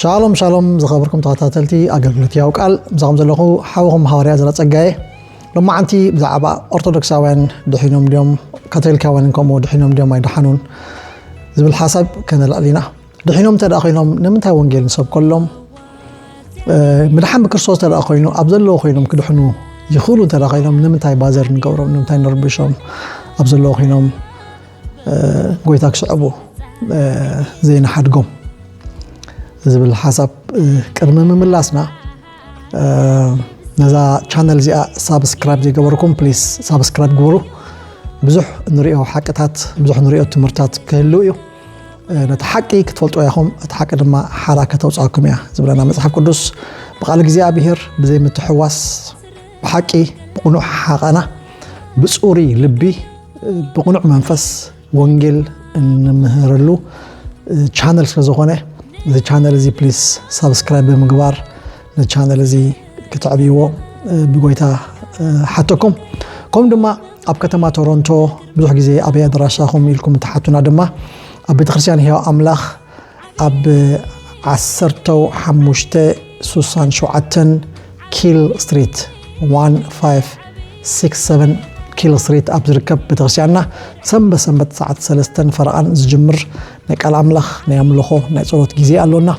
ሻሎም ሻሎም ዝኸብርኩም ተኸታተልቲ ኣገልግሎት ያው ቃል ምሳኹም ዘለኹ ሓውኹም ሃዋርያ ዘረ ጸጋየ ሎማዓንቲ ብዛዕባ ኦርቶዶክሳውያን ድሒኖም ድዮም ካቶሊካውያን ከምኡ ድሒኖም ድዮም ኣይደሓኑን ዝብል ሓሳብ ከነልዕል ኢና ድሒኖም እንተ ኮይኖም ንምንታይ ወንጌል ንሰብከሎም ምድሓን ብክርስቶስ እንተ ኮይኑ ኣብ ዘለዎ ኮይኖም ክድሕኑ ይኽእሉ እንተ ኮይኖም ንምንታይ ባዘር ንገብሮም ንምንታይ ንርብሾም ኣብ ዘለዎ ኮይኖም ጎይታ ክስዕቡ ዘይንሓድጎም ዝብል ሓሳብ ቅድሚ ምምላስና ነዛ ቻነል እዚኣ ሳብስክራይብ ዘይገበርኩም ፕሊስ ሳብስክራይብ ግበሩ። ብዙሕ ንሪኦ ሓቅታት ብዙሕ ንሪኦ ትምህርታት ክህልው እዩ። ነቲ ሓቂ ክትፈልጡ ያኹም እቲ ሓቂ ድማ ሓራ ከተውፅኣኩም እያ ዝብለና መፅሓፍ ቅዱስ ብቃል እግዚኣብሄር ብዘይ ምትሕዋስ ብሓቂ ብቕኑዕ ሓቓና ብፁሩይ ልቢ ብቕኑዕ መንፈስ ወንጌል እንምህረሉ ቻነል ስለ ዝኾነ እዚ ቻነል እዚ ፕሊስ ሳብስክራይብ ብምግባር ንቻነል እዚ ክትዕብይዎ ብጎይታ ሓተኩም ከምኡ ድማ ኣብ ከተማ ቶሮንቶ ብዙሕ ግዜ ኣበይ ኣድራሻኹም ኢልኩም እትሓቱና ድማ ኣብ ቤተክርስትያን ህያው ኣምላኽ ኣብ ዓሰርተው ሓሙሽተ ሱሳን ሸውዓተን ኪል ስትሪት ዋን ፋይቭ ሲክስ ሰቨን ኪል ስትሪት ኣብ ዝርከብ ቤተክርስትያንና ሰንበት ሰንበት ሰዓት ሰለስተን ፈረቓን ዝጅምር ናይ ቃል ኣምላኽ ናይ ኣምልኾ ናይ ጸሎት ግዜ ኣሎና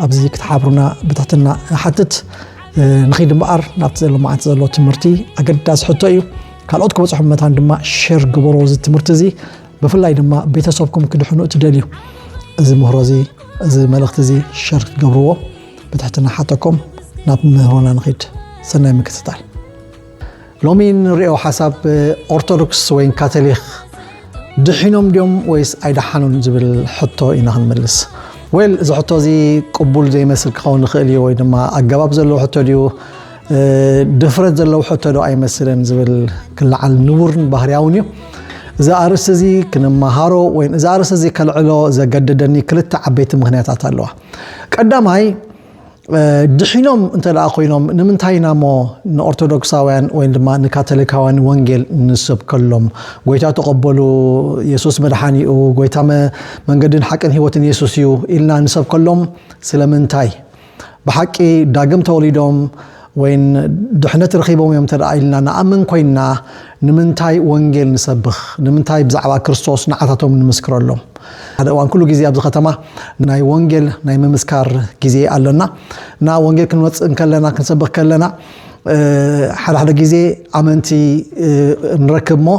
ኣብዚ ክትሓብሩና ብትሕትና እሓትት ንኺድ እምበኣር ናብቲ ዘሎ መዓልቲ ዘሎ ትምህርቲ ኣገዳሲ ሕቶ እዩ ካልኦት ክበፅሑ መታን ድማ ሸር ግበሮ እዚ ትምህርቲ እዚ ብፍላይ ድማ ቤተሰብኩም ክድሕኑ እትደልዩ እዚ ምህሮ እዚ እዚ መልእኽቲ እዚ ሸር ክትገብርዎ ብትሕትና ሓተኩም ናብ ምህሮና ንኺድ ሰናይ ምክትታል ሎሚ ንሪኦ ሓሳብ ኦርቶዶክስ ወይ ካቶሊክ ድሒኖም ድዮም ወይስ ኣይደሓኑን ዝብል ሕቶ ኢና ክንምልስ ወይ እዚ ሕቶ እዚ ቅቡል ዘይመስል ክኸውን ይኽእል እዩ ወይ ድማ ኣገባብ ዘለዎ ሕቶ ድዩ ድፍረት ዘለዎ ሕቶ ዶ ኣይመስልን ዝብል ክለዓል ንቡርን ባህርያውን እዩ። እዚ ኣርእስቲ እዚ ክንመሃሮ ወይ እዚ ኣርእስቲ እዚ ከልዕሎ ዘገደደኒ ክልተ ዓበይቲ ምክንያታት ኣለዋ። ቀዳማይ ድሒኖም እንተ ደኣ ኮይኖም ንምንታይ ኢና እሞ ንኦርቶዶክሳውያን ወይ ድማ ንካቶሊካውያን ወንጌል ንሰብከሎም ጎይታ ተቐበሉ የሱስ መድሓኒ እዩ ጎይታ መንገድን ሓቅን ህይወትን የሱስ እዩ ኢልና ንሰብከሎም ስለምንታይ ብሓቂ ዳግም ተወሊዶም ወይን ድሕነት ረኺቦም እዮም እንተ ኢልና ንኣምን ኮይንና ንምንታይ ወንጌል ንሰብኽ? ንምንታይ ብዛዕባ ክርስቶስ ንዓታቶም ንምስክረሎም? ሓደ እዋን ኩሉ ግዜ ኣብዚ ከተማ ናይ ወንጌል ናይ ምምስካር ግዜ ኣሎና እና ወንጌል ክንመፅእ እንከለና ክንሰብኽ ከለና ሓደ ሓደ ግዜ ኣመንቲ ንረክብ እሞ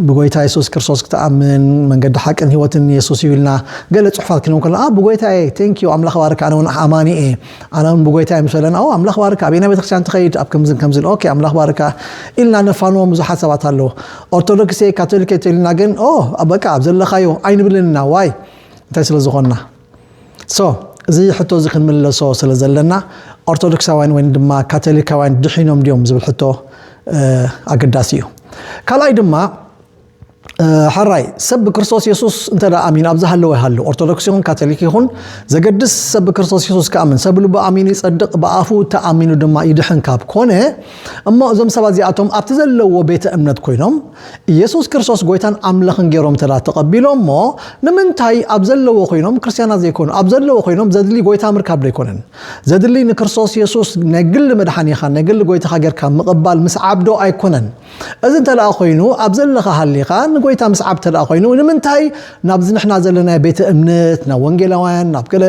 ብጎይታ የሱስ ክርስቶስ ክትኣምን መንገዲ ሓቅን ህይወትን የሱስ እዩ ኢልና ገለ ጽሑፋት ክንብ ከለና ኣብ ብጎይታ እየ ቴንክ ዩ ኣምላኽ ባርክ ኣነ እውን ኣማኒ እየ ኣነ እውን ብጎይታ እየ ምስ በለና ኦ ኣምላኽ ባርካ ኣብ ናይ ቤተክርስትያን ትኸይድ ኣብ ከምዝን ከምዝን ኦኬ ኣምላኽ ባርካ ኢልና ነፋንዎም ብዙሓት ሰባት ኣለዎ ኦርቶዶክስ እየ ካቶሊክ እየ ተልና ግን ኦ በቃ ኣብ ዘለኻዮ ኣይንብልን ኢና ዋይ እንታይ ስለ ዝኾንና So እዚ ሕቶ እዚ ክንምለሶ ስለ ዘለና ኦርቶዶክሳውያን ወይ ድማ ካቶሊካውያን ድሒኖም ድዮም ዝብል ሕቶ ኣገዳሲ እዩ። ካልኣይ ድማ ሐራይ ሰብ ብክርስቶስ የሱስ እንተ ኣሚኑ ኣብ ዝሃለወ ይሃሉ ኦርቶዶክስ ይኹን ካቶሊክ ይኹን ዘገድስ ሰብ ብክርስቶስ የሱስ ክኣምን ሰብ ልቡ ኣሚኑ ይጸድቕ ብኣፉ ተኣሚኑ ድማ ይድሕን ካብ ኮነ እሞ እዞም ሰባት እዚኣቶም ኣብቲ ዘለዎ ቤተ እምነት ኮይኖም ኢየሱስ ክርስቶስ ጎይታን ኣምላኽን ገይሮም እንተ ተቐቢሎሞ ንምንታይ ኣብ ዘለዎ ኮይኖም ክርስቲያናት ዘይኮኑ ኣብ ዘለዎ ኮይኖም ዘድሊ ጎይታ ምርካብ ዶ ኣይኮነን ዘድሊ ንክርስቶስ ኢየሱስ ናይ ግሊ መድሓኒኻ ናይ ግሊ ጎይታኻ ጌርካ ምቕባል ምስዓብ ዶ ኣይኮነን እዚ እንተ ኮይኑ ኣብ ዘለኻ ሃሊኻ ንጎይታ ምስዓብ እንተ ኮይኑ ንምንታይ ናብዚ ንሕና ዘለና ቤተ እምነት ናብ ወንጌላውያን ናብ ገለ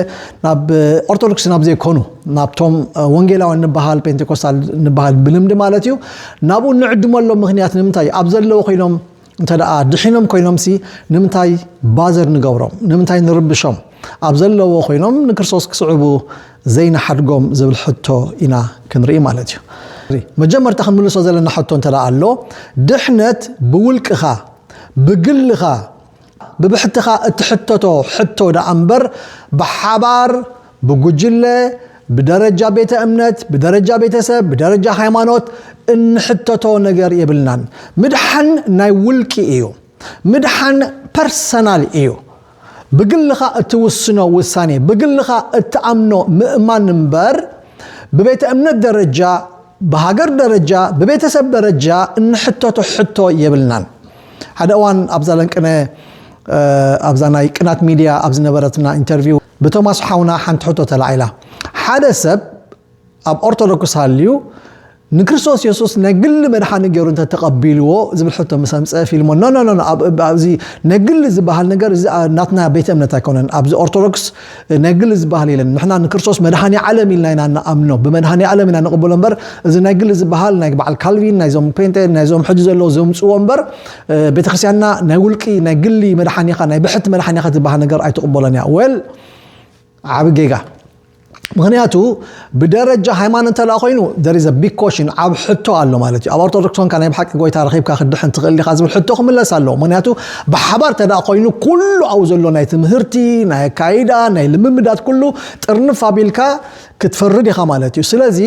ናብ ኦርቶዶክስ ናብ ዘይኮኑ ናብቶም ወንጌላውያን ንበሃል ፔንቴኮስታል ንበሃል ብልምዲ ማለት እዩ ናብኡ ንዕድመሎም ምክንያት ንምንታይ እዩ ኣብ ዘለዎ ኮይኖም እንተ ደኣ ድሒኖም ኮይኖምሲ ንምንታይ ባዘር ንገብሮም ንምንታይ ንርብሾም ኣብ ዘለዎ ኮይኖም ንክርስቶስ ክስዕቡ ዘይንሓድጎም ዝብል ሕቶ ኢና ክንርኢ ማለት እዩ መጀመርታ ክንምልሶ ዘለና ሕቶ እንተ ኣሎ ድሕነት ብውልቅኻ ብግልኻ ብብሕትኻ እትሕተቶ ሕቶ ደኣ እምበር ብሓባር፣ ብጉጅለ፣ ብደረጃ ቤተ እምነት፣ ብደረጃ ቤተሰብ፣ ብደረጃ ሃይማኖት እንሕተቶ ነገር የብልናን። ምድሓን ናይ ውልቂ እዩ። ምድሓን ፐርሰናል እዩ። ብግልኻ እትውስኖ ውሳኔ፣ ብግልኻ እትኣምኖ ምእማን እምበር ብቤተ እምነት ደረጃ ብሃገር ደረጃ ብቤተሰብ ደረጃ እንሕተቶ ሕቶ የብልናን። ሓደ እዋን ኣብዛ ለንቅነ ኣብዛ ናይ ቅናት ሚድያ ኣብ ዝነበረትና ኢንተርቪው ብቶማስ ሓውና ሓንቲ ሕቶ ተላዒላ ሓደ ሰብ ኣብ ኦርቶዶክስ ሃልዩ ንክርስቶስ የሱስ ናይ ግሊ መድሓኒ ገይሩ እንተ ተቐቢልዎ ዝብል ሕቶ ምስ ኣምፀ ፊልሞ ኖኖኖ ኣብዚ ናይ ግሊ ዝበሃል ነገር እዚ ናትና ቤተ እምነት ኣይኮነን ኣብዚ ኦርቶዶክስ ናይ ግሊ ዝበሃል የለን ንሕና ንክርስቶስ መድሃኒ ዓለም ኢልና ኢና ንኣምኖ ብመድሃኒ ዓለም ኢና ንቕበሎ እምበር እዚ ናይ ግሊ ዝበሃል ናይ በዓል ካልቪን ናይዞም ፔንቴ ናይዞም ሕጂ ዘለዉ ዘምፅዎ እምበር ቤተክርስትያንና ናይ ውልቂ ናይ ግሊ መድሓኒኻ ናይ ብሕቲ መድሓኒኻ ዝበሃል ነገር ኣይትቕበሎን እያ ወል ዓብ ጌጋ ምክንያቱ ብደረጃ ሃይማኖ እንተደኣ ኮይኑ there is a big question ዓቢ ሕቶ ኣሎ ማለት እዩ ኣብ ኦርቶዶክስ ኮንካ ናይ ብሓቂ ጎይታ ረኺብካ ክትድሕን ትኽእል ዲኻ ዝብል ሕቶ ክምለስ ኣለዎ ምክንያቱ ብሓባር እንተደኣ ኮይኑ ኩሉ ኣብኡ ዘሎ ናይ ትምህርቲ ናይ ኣካይዳ ናይ ልምምዳት ኩሉ ጥርንፍ ኣቢልካ ክትፈርድ ኢኻ ማለት እዩ ስለዚ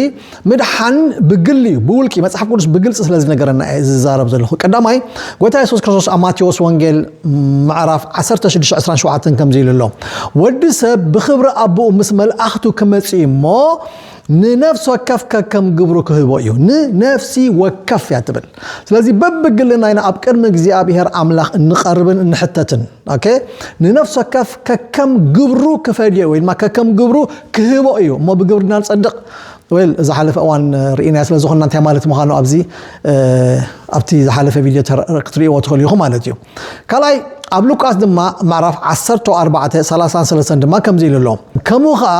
ምድሓን ብግሊ እዩ ብውልቂ መጽሓፍ ቅዱስ ብግልጺ ስለ ዝነገረና እየ ዝዛረብ ዘለኹ ቀዳማይ ጎይታ የሱስ ክርስቶስ ኣብ ማቴዎስ ወንጌል ምዕራፍ ዓሰርተ ሽዱሽተ ዕስራን ሸውዓተን ከምዚ ኢሉ ኣሎ፣ ወዲ ሰብ ብኽብሪ ኣቦኡ ምስ መልኣኽቱ ክመጽእ እዩ እሞ፣ ንነፍሲ ወከፍ ከከም ግብሩ ክህቦ እዩ። ንነፍሲ ወከፍ እያ ትብል። ስለዚ በብግልና ኢና ኣብ ቅድሚ እግዚኣብሄር ኣምላኽ እንቐርብን እንሕተትን። ኦኬ ንነፍሲ ወከፍ ከከም ግብሩ ክፈድዮ ወይ ድማ ከከም ግብሩ ክህቦ እዩ እሞ ብግብርና ንጸድቕ። ዌል ዝሓለፈ እዋን ርኢናያ ስለ ዝኾንና እንታይ ማለት ምዃኑ ኣብዚ ኣብቲ ዝሓለፈ ቪድዮ ክትርእይዎ ትኽእሉ ኢኹም ማለት እዩ ካልኣይ ኣብ ሉቃስ ድማ ምዕራፍ 14 33 ድማ ከምዚ ኢሉ ኣሎ ከምኡ ከዓ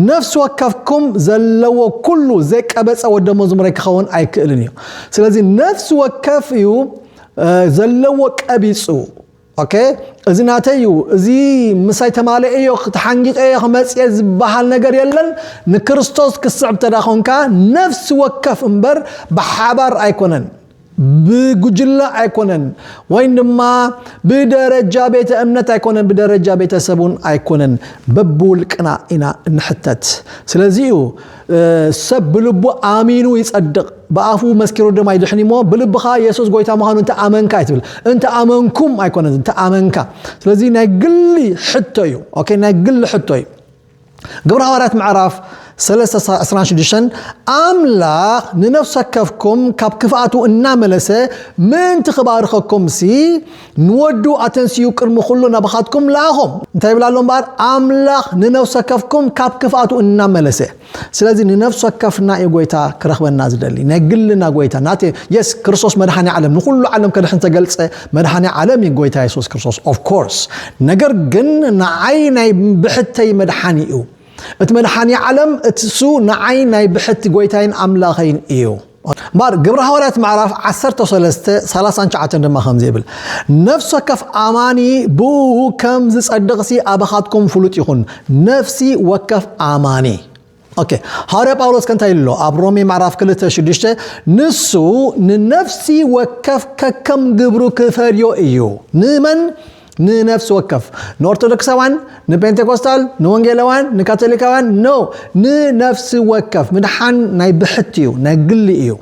ነፍሲ ወከፍኩም ዘለዎ ኩሉ ዘይቀበፀ ወደ መዝሙረ ክኸውን ኣይክእልን እዩ ስለዚ ነፍሲ ወከፍ እዩ ዘለዎ ቀቢፁ ኦከ እዚ ናተይ እዩ እዚ ምሳይ ተማልኤ እዮ ተሓንጊጠ እየ ክመፅየ ዝበሃል ነገር የለን ንክርስቶስ ክስዕብ ተዳ ኮንካ ነፍሲ ወከፍ እምበር ብሓባር ኣይኮነን ብጉጅለ ኣይኮነን ወይም ድማ ብደረጃ ቤተ እምነት ኣይኮነን ብደረጃ ቤተሰብ እውን ኣይኮነን በብውልቅና ኢና እንሕተት ስለዚ እዩ ሰብ ብልቡ ኣሚኑ ይጸድቕ ብኣፉ መስኪሩ ድማ ይድሕን እሞ ብልብኻ የሱስ ጎይታ ምዃኑ እንተ ኣመንካ እዩ ትብል እንተ ኣመንኩም ኣይኮነን እንተ ኣመንካ ስለዚ ናይ ግሊ ሕቶ እዩ ኦኬ ናይ ግሊ ሕቶ እዩ ግብረ ሃዋርያት ምዕራፍ 326 ኣምላኽ ንነፍሰ ከፍኩም ካብ ክፍኣቱ እናመለሰ ምእንቲ ክባርኸኩም ሲ ንወዱ ኣተንሲኡ ቅድሚ ዅሉ ናባኻትኩም ለኣኾም። እንታይ ይብል ኣሎ እምበኣር? ኣምላኽ ንነፍሲ ወከፍኩም ካብ ክፍኣቱ እናመለሰ። ስለዚ ንነፍሲ ወከፍና እዩ ጐይታ ክረኽበና ዝደሊ። ናይ ግልና ጐይታ ናተይ እዩ። የስ ክርስቶስ መድሓኒ ዓለም ንዅሉ ዓለም ከድሕን ዝተገልጸ መድሓኒ ዓለም እዩ ጐይታ የሱስ ክርስቶስ ኦፍ ኮርስ። ነገር ግን ንዓይ ናይ ብሕተይ መድሓኒ እዩ። እቲ መድሓኒ ዓለም እሱ ንዓይ ናይ ብሕቲ ጐይታይን ኣምላኸይን እዩ። ማር። ግብሪ ሃዋርያት ምዕራፍ ዓሰርተ ሰለስተ ሰላሳን ትሽዓተን ድማ ከምዚ ይብል፣ ነፍሲ ወከፍ ኣማኒ ብእኡ ከም ዝጸድቕሲ ኣባኻትኩም ፍሉጥ ይኹን። ነፍሲ ወከፍ ኣማኒ ኦኬ ሃዋርያ ጳውሎስ ከንታይ ኣሎ ኣብ ሮሜ ምዕራፍ ክልተ ሽዱሽተ ንሱ ንነፍሲ ወከፍ ከከም ግብሩ ክፈልዮ እዩ ንመን ንነፍሲ ወከፍ ንኦርቶዶክሳውያን ንጴንቴኮስታል ንወንጌላውያን ንካቶሊካውያን ኖ ንነፍሲ ወከፍ ምድሓን ናይ ብሕቲ እዩ ናይ ግሊ እዩ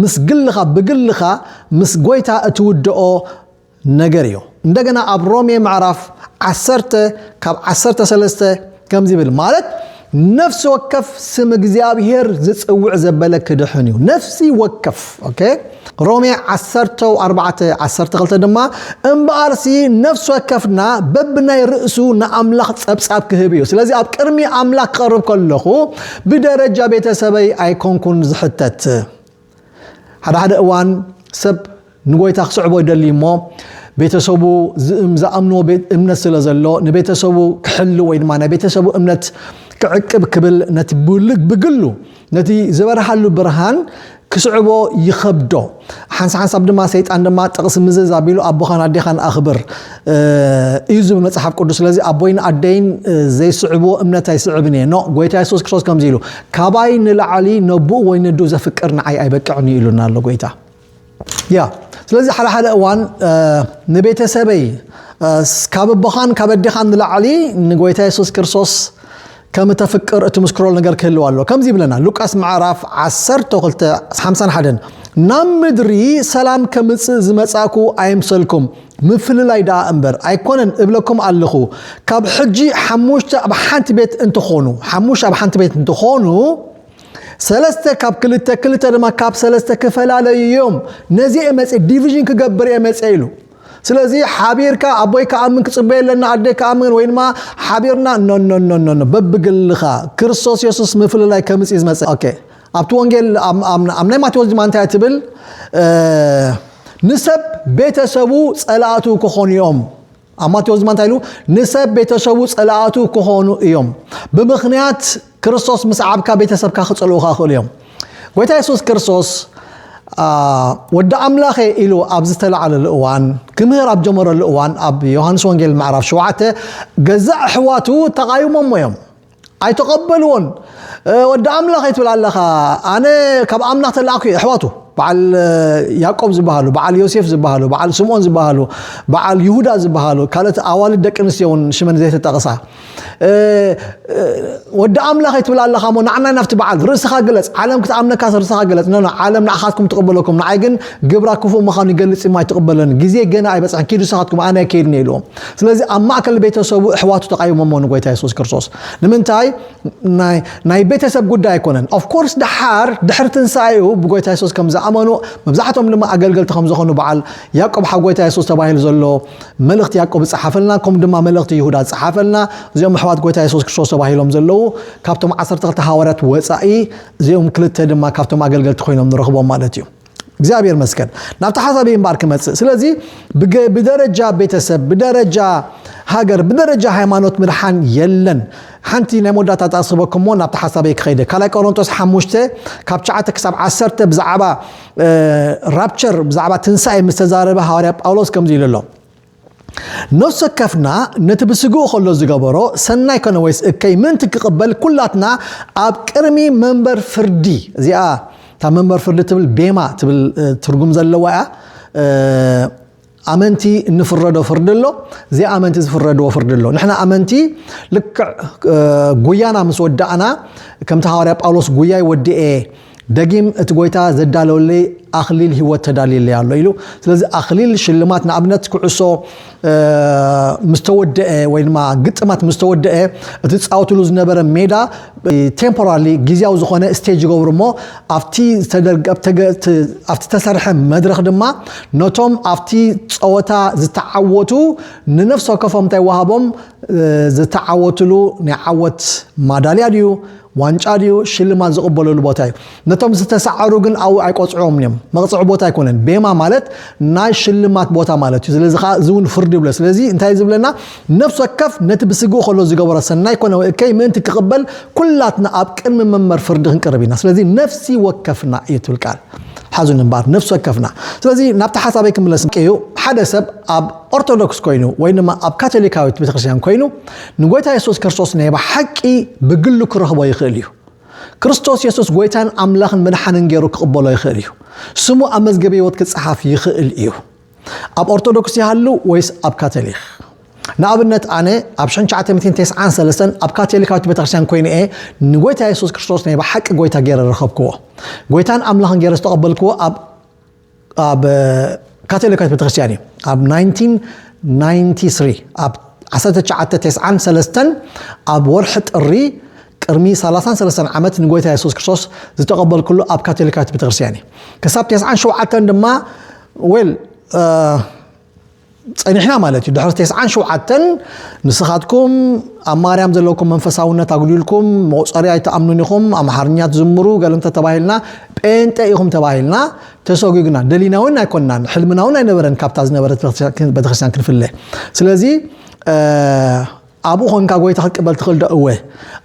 ምስ ግልኻ ብግልኻ ምስ ጎይታ እትውድኦ ነገር እዩ እንደገና ኣብ ሮሜ ምዕራፍ ዓሰርተ ካብ ዓሰርተ ሰለስተ ከምዚ ይብል ማለት ነፍሲ ወከፍ ስም እግዚኣብሔር ዝጽውዕ ዘበለ ክድሕን እዩ ነፍሲ ወከፍ ኦኬ ሮሜ ዓሰርተ ኣርባዕተ ዓሰርተ ክልተ ድማ እምበኣርሲ ነፍሲ ወከፍና በብናይ ርእሱ ንኣምላኽ ጸብጻብ ክህብ እዩ ስለዚ ኣብ ቅድሚ ኣምላኽ ክቐርብ ከለኹ ብደረጃ ቤተሰበይ ኣይኮንኩን ዝሕተት ሓደ ሓደ እዋን ሰብ ንጎይታ ክስዕቦ ይደልይ እሞ ቤተሰቡ ዝኣምንዎ ቤት እምነት ስለ ዘሎ ንቤተሰቡ ክሕሉ ወይ ድማ ናይ ቤተሰቡ እምነት ክዕቅብ ክብል ነቲ ብግሉ ነቲ ዝበርሃሉ ብርሃን ክስዕቦ ይኸብዶ ሓንሳ ሓንሳብ ድማ ሰይጣን ድማ ጥቕሲ ምዝዝ ኣቢሉ ኣቦኻን ኣዴኻን ኣኽብር እዩ ዝብል መፅሓፍ ቅዱስ ስለዚ ኣቦይን ኣደይን ዘይስዕብዎ እምነት ኣይስዕብን እየ ኖ ጎይታ የሱስ ክርስቶስ ከምዚ ኢሉ ካባይ ንላዕሊ ነቡኡ ወይ ነዱ ዘፍቅር ንዓይ ኣይበቅዕን እዩ ኢሉና ኣሎ ጎይታ ያ ስለዚ ሓደ ሓደ እዋን ንቤተሰበይ ካብ ኣቦኻን ካብ ኣዴኻን ንላዕሊ ንጎይታ የሱስ ክርስቶስ ከም እተፍቅር እትምስክረሉ ነገር ክህልው ኣሎ ከምዚ ይብለና ሉቃስ ምዕራፍ 1251 ናብ ምድሪ ሰላም ከምፅእ ዝመፃእኩ ኣይምሰልኩም ምፍልላይ ደኣ እምበር ኣይኮነን እብለኩም ኣለኹ ካብ ሕጂ ሓሙሽተ ኣብ ሓንቲ ቤት እንትኾኑ ሓሙሽተ ኣብ ሓንቲ ቤት እንትኾኑ ሰለስተ ካብ ክልተ ክልተ ድማ ካብ ሰለስተ ክፈላለዩ እዮም ነዚ እየ መፀ ዲቪዥን ክገብር እየ መፀ ኢሉ ስለዚ ሓቢርካ ኣቦይ ክኣምን ክፅበ ኣለና ኣደይ ክኣምን ወይ ድማ ሓቢርና ኖኖኖኖኖ በብግልኻ ክርስቶስ የሱስ ምፍልላይ ከምፅ እዩ ዝመፀ ኦኬ ኣብቲ ወንጌል ኣብ ናይ ማቴዎስ ድማ እንታይ ትብል ንሰብ ቤተሰቡ ጸላእቱ ክኾኑ እዮም ኣብ ማቴዎስ ድማ እንታይ ኢሉ ንሰብ ቤተሰቡ ጸላእቱ ክኾኑ እዮም ብምኽንያት ክርስቶስ ምስ ዓብካ ቤተሰብካ ክጸልኡካ ክእሉ እዮም ጎይታ የሱስ ክርስቶስ ወዲ ኣምላኸ ኢሉ ኣብ ዝተላዓለሉ እዋን ክምህር ኣብ ጀመረሉ እዋን ኣብ ዮሃንስ ወንጌል ምዕራፍ ሸውዓተ ገዛእ ኣሕዋቱ ተቓይሞሞ እዮም ኣይተቐበልዎን ወዲ ኣምላኽ እትብል ኣለኻ ኣነ ካብ ኣምላኽ ተላእኩ እየ ኣሕዋቱ በዓል ያቆብ ዝበሃሉ በዓል ዮሴፍ ዝበሃሉ በዓል ስምኦን ዝበሃሉ በዓል ይሁዳ ዝበሃሉ ካልኦት ኣዋልድ ደቂ ኣንስትዮ እውን ሽመን ዘይተጠቕሳ ወዲ ኣምላኽ ትብል ኣለኻ ሞ ንዓና ናብቲ በዓል ርእስኻ ግለጽ ዓለም ክትኣምነካ ርእስኻ ግለጽ ኖ ዓለም ንዓኻትኩም ትቕበለኩም ንዓይ ግን ግብራ ክፉእ ምዃኑ ይገልጽ እማ ኣይትቕበለን ግዜ ገና ኣይበፅሐን ኪዱ ንስኻትኩም ኣነ ኣይከይድን እየ ኢልዎም ስለዚ ኣብ ማእከል ቤተሰቡ እሕዋቱ ተቃይሞሞ ንጎይታ የሱስ ክርስቶስ ንምንታይ ናይ ቤተሰብ ጉዳይ ኣይኮነን ኦፍኮርስ ደሓር ድሕሪ ትንሳኤኡ ብጎይታ የሱስ ከም ዝኣመኑ መብዛሕቶም ድማ ኣገልገልቲ ከም ዝኾኑ በዓል ያቆብ ሓው ጎይታ የሱስ ተባሂሉ ዘሎ መልእኽቲ ያቆብ ዝፀሓፈልና ከምኡ ድማ መልእኽቲ ይሁዳ ዝፀሓፈልና እዚኦም ኣሕዋት ጎይታ የሱስ ክርስቶስ ተባሂሎም ዘለዉ ካብቶም ዓሰርተ ክልተ ሃዋርያት ወፃኢ እዚኦም ክልተ ድማ ካብቶም ኣገልገልቲ ኮይኖም ንረኽቦም ማለት እዩ እግዚኣብሔር መስገን ናብቲ ሓሳብ እምባር ክመፅእ ስለዚ ብደረጃ ቤተሰብ ብደረጃ ሃገር ብደረጃ ሃይማኖት ምድሓን የለን ሓንቲ ናይ መወዳእታ ተኣስበኩም ሞ ናብቲ ሓሳበይ ክኸይደ ካልኣይ ቆሮንጦስ ሓሙሽተ ካብ ሸዓተ ክሳብ ዓሰርተ ብዛዕባ ራፕቸር ብዛዕባ ትንሳኤ ምስ ተዛረበ ሃዋርያ ጳውሎስ ከምዚ ኢሉ ኣሎ ነፍሲ ወከፍና ነቲ ብስግኡ ከሎ ዝገበሮ ሰናይ ኮነ ወይስ እከይ ምእንቲ ክቕበል ኩላትና ኣብ ቅድሚ መንበር ፍርዲ እዚኣ እታ መንበር ፍርዲ ትብል ቤማ ትብል ትርጉም ዘለዋ እያ ኣመንቲ እንፍረዶ ፍርዲ ኣሎ ዘይኣመንቲ ዝፍረድዎ ፍርዲ ኣሎ ንሕና ኣመንቲ ልክዕ ጉያና ምስ ወዳእና ከምቲ ሃዋርያ ጳውሎስ ጉያይ ወዲኤ ደጊም እቲ ጎይታ ዘዳለወለይ ኣኽሊል ህይወት ተዳልየለይ ኣሎ ኢሉ ስለዚ ኣኽሊል ሽልማት ንኣብነት ኩዕሶ ምስ ተወደአ ወይ ድማ ግጥማት ምስ ተወደአ እቲ ዝፃወትሉ ዝነበረ ሜዳ ቴምፖራሪ ግዜያዊ ዝኾነ ስቴጅ ይገብሩ እሞ ኣብቲ ዝተደርገ- ኣብቲ ገ- እቲ- ኣብቲ ዝተሰርሐ መድረኽ ድማ ነቶም ኣብቲ ፀወታ ዝተዓወቱ ንነፍሲ ወከፎም እንታይ ወሃቦም እ፣ ዝተዓወትሉ ናይ ዓወት ማዳልያ ድዩ ዋንጫ ድዩ ሽልማት ዝቕበለሉ ቦታ እዩ። ነቶም ዝተሰዓሩ ግን ኣብኡ ኣይቆጽዕዎምን እዮም። መቕጽዒ ቦታ ኣይኮነን። ቤማ ማለት ናይ ሽልማት ቦታ ማለት እዩ። ስለዚ ከኣ እዚ እውን ፍርዲ ይብሎ። ስለዚ እንታይ እዩ ዝብለና? ነፍሲ ወከፍ ነቲ ብስግኡ ከሎ ዝገበሮ ሰናይ ኮነ ወይ እከይ ምእንቲ ክቕበል ኩላትና ኣብ ቅድሚ መንበር ፍርዲ ክንቀርብ ኢና። ስለዚ ነፍሲ ወከፍና እዩ ትብል ቃል። ሓዙኒ እምበኣር ነፍሲ ወከፍና። ስለዚ ናብቲ ሓሳበይ ክምለስ እዩ ሓደ ሰብ ኣብ ኦርቶዶክስ ኮይኑ ወይ ድማ ኣብ ካቶሊካዊት ቤተክርስትያን ኮይኑ ንጎይታ የሱስ ክርስቶስ ናይ ብሓቂ ብግሉ ክረኽቦ ይኽእል እዩ። ክርስቶስ የሱስ ጎይታን ኣምላኽን መድሓንን ገይሩ ክቕበሎ ይኽእል እዩ። ስሙ ኣብ መዝገብ ህይወት ክጸሓፍ ይኽእል እዩ። ኣብ ኦርቶዶክስ ይሃሉ ወይስ ኣብ ካቶሊክ? ንኣብነት ኣነ ኣብ 1993 ኣብ ካቶሊካዊት ቤተክርስትያን ኮይኑ እየ ንጎይታ የሱስ ክርስቶስ ናይ ብሓቂ ጎይታ ገይረ ረኸብክዎ። ጎይታን ኣምላኽን ገይረ ዝተቐበልክዎ ኣብ ኣብ ካቶሊካዊት ቤተክርስትያን እዩ ኣብ 1993 ኣብ ዓሰርተ ትሽዓተ ቴስዓን ሰለስተን ኣብ ወርሒ ጥሪ ቅድሚ ሰላሳን ሰለስተን ዓመት ንጎይታ የሱስ ክርስቶስ ዝተቐበልኩሉ ኣብ ካቶሊካዊት ቤተክርስትያን እዩ ክሳብ ቴስዓን ሸውዓተን ድማ ዌል ጸኒሕና ማለት እዩ ድሕሪ ቴስዓን ሸውዓተን ንስኻትኩም ኣብ ማርያም ዘለኩም መንፈሳውነት ኣጉዲልኩም መቑፀሪ ኣይትኣምኑን ኢኹም ኣምሓርኛ ትዝምሩ ገለ እንተ ተባሂልና ጴንጠ ኢኹም ተባሂልና ተሰጒግና ደሊና እውን ኣይኮናን ሕልምና እውን ኣይነበረን ካብታ ዝነበረት ቤተክርስትያን ክንፍለ ስለዚ ኣብኡ ኮንካ ጎይታ ክትቅበል ትኽእል ዶ? እወ።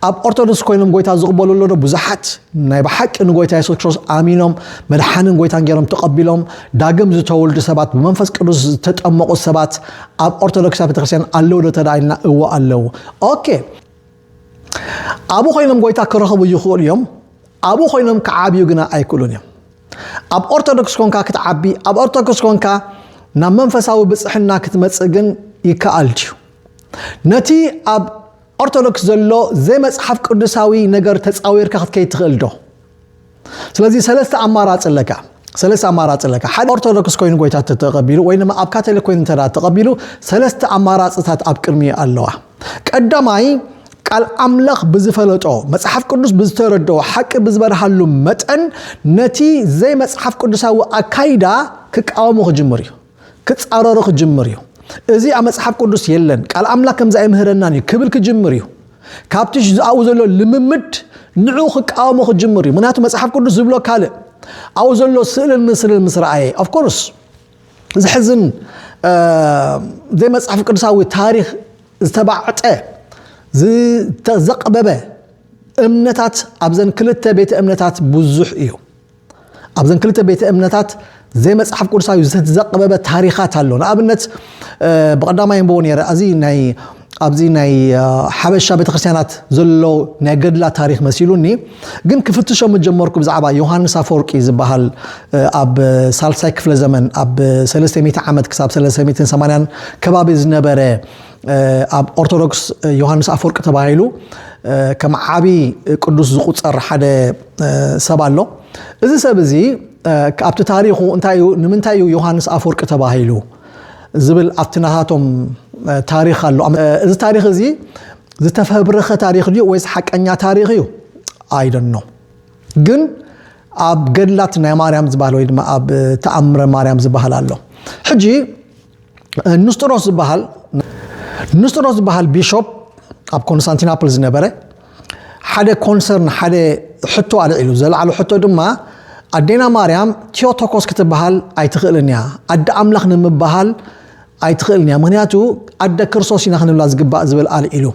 ኣብ ኦርቶዶክስ ኮይኖም ጎይታ ዝቕበሉ ኣሎ ዶ? ብዙሓት ናይ ብሓቂ ንጎይታ የሱስ ክርስቶስ ኣሚኖም መድሓንን ጎይታን ገይሮም ተቐቢሎም ዳግም ዝተወልዱ ሰባት ብመንፈስ ቅዱስ ዝተጠመቑ ሰባት ኣብ ኦርቶዶክሳዊ ቤተክርስትያን ኣለዉ ዶ ተደኣ ኢልና እወ ኣለዉ። ኦኬ ኣብኡ ኮይኖም ጎይታ ክረኽቡ ይኽእሉ እዮም። ኣብኡ ኮይኖም ክዓብዩ ግና ኣይክእሉን እዮም። ኣብ ኦርቶዶክስ ኮንካ ክትዓቢ ኣብ ኦርቶዶክስ ኮንካ ናብ መንፈሳዊ ብፅሕና ክትመፅእ ግን ይከኣል ድዩ? ነቲ ኣብ ኦርቶዶክስ ዘሎ ዘይመጽሓፍ ቅዱሳዊ ነገር ተጻዊርካ ክትከይድ ትኽእል ዶ? ስለዚ ሰለስተ ኣማራጺ ኣለካ። ሰለስተ ኣማራጺ ኣለካ። ሓደ ኦርቶዶክስ ኮይኑ ጎይታ ተተቐቢሉ ወይ ድማ ኣብ ካቶሊክ ኮይኑ እንተ ተቐቢሉ ሰለስተ ኣማራጺታት ኣብ ቅድሚ ኣለዋ። ቀዳማይ ቃል ኣምላኽ ብዝፈለጦ መጽሓፍ ቅዱስ ብዝተረድኦ ሓቂ ብዝበርሃሉ መጠን ነቲ ዘይመጽሓፍ ቅዱሳዊ ኣካይዳ ክቃወሙ ክጅምር እዩ። ክጻረሮ ክጅምር እዩ። እዚ ኣብ መጽሓፍ ቅዱስ የለን፣ ቃል ኣምላኽ ከምዚ ኣይምህረናን እዩ ክብል ክጅምር እዩ። ካብቲ ኣብኡ ዘሎ ልምምድ ንዕኡ ክቃወሞ ክጅምር እዩ። ምክንያቱ መጽሓፍ ቅዱስ ዝብሎ ካልእ ኣብኡ ዘሎ ስእልን ምስልን ምስ ረኣየ ኦፍኮርስ ዝሕዝን ዘይመጽሓፍ ቅዱሳዊ ታሪክ ዝተባዕጠ ዝተዘቕበበ እምነታት ኣብዘን ክልተ ቤተ እምነታት ብዙሕ እዩ ኣብዘን ክልተ ቤተ እምነታት ዘይመጽሓፍ ቅዱሳዊ ዝተዘቐበበ ታሪኻት ኣሎ ንኣብነት ብቐዳማይ ንበቦ ነረ እዚ ናይ ኣብዚ ናይ ሓበሻ ቤተክርስትያናት ዘሎ ናይ ገድላ ታሪክ መሲሉኒ ግን ክፍትሾ ምጀመርኩ ብዛዕባ ዮሃንስ ኣፈወርቂ ዝበሃል ኣብ ሳልሳይ ክፍለ ዘመን ኣብ 300 ዓመት ክሳብ 380 ከባቢ ዝነበረ ኣብ ኦርቶዶክስ ዮሃንስ ኣፈወርቂ ተባሂሉ ከም ዓብዪ ቅዱስ ዝቁፀር ሓደ ሰብ ኣሎ እዚ ሰብ እዚ ኣብቲ ታሪኹ እንታይ እዩ ንምንታይ እዩ ዮሃንስ ኣፈወርቂ ተባሂሉ ዝብል ኣብቲ ናታቶም ታሪክ ኣሎ እዚ ታሪክ እዚ ዝተፈብረኸ ታሪክ ድዩ ወይስ ሓቀኛ ታሪክ እዩ ኣይደኖ ግን ኣብ ገድላት ናይ ማርያም ዝበሃል ወይ ድማ ኣብ ተኣምረ ማርያም ዝበሃል ኣሎ ሕጂ ንስጥሮስ ዝበሃል ንስጥሮስ ዝበሃል ቢሾፕ ኣብ ኮንስታንቲናፕል ዝነበረ ሓደ ኮንሰርን ሓደ ሕቶ ኣልዒሉ ዘለዓሉ ሕቶ ድማ ኣዴና ማርያም ቴዎቶኮስ ክትበሃል ኣይትኽእልን እያ ኣደ ኣምላኽ ንምበሃል ኣይትኽእልን እያ ምክንያቱ ኣደ ክርስቶስ ኢና ክንብላ ዝግባእ ዝብል ኣልዒሉ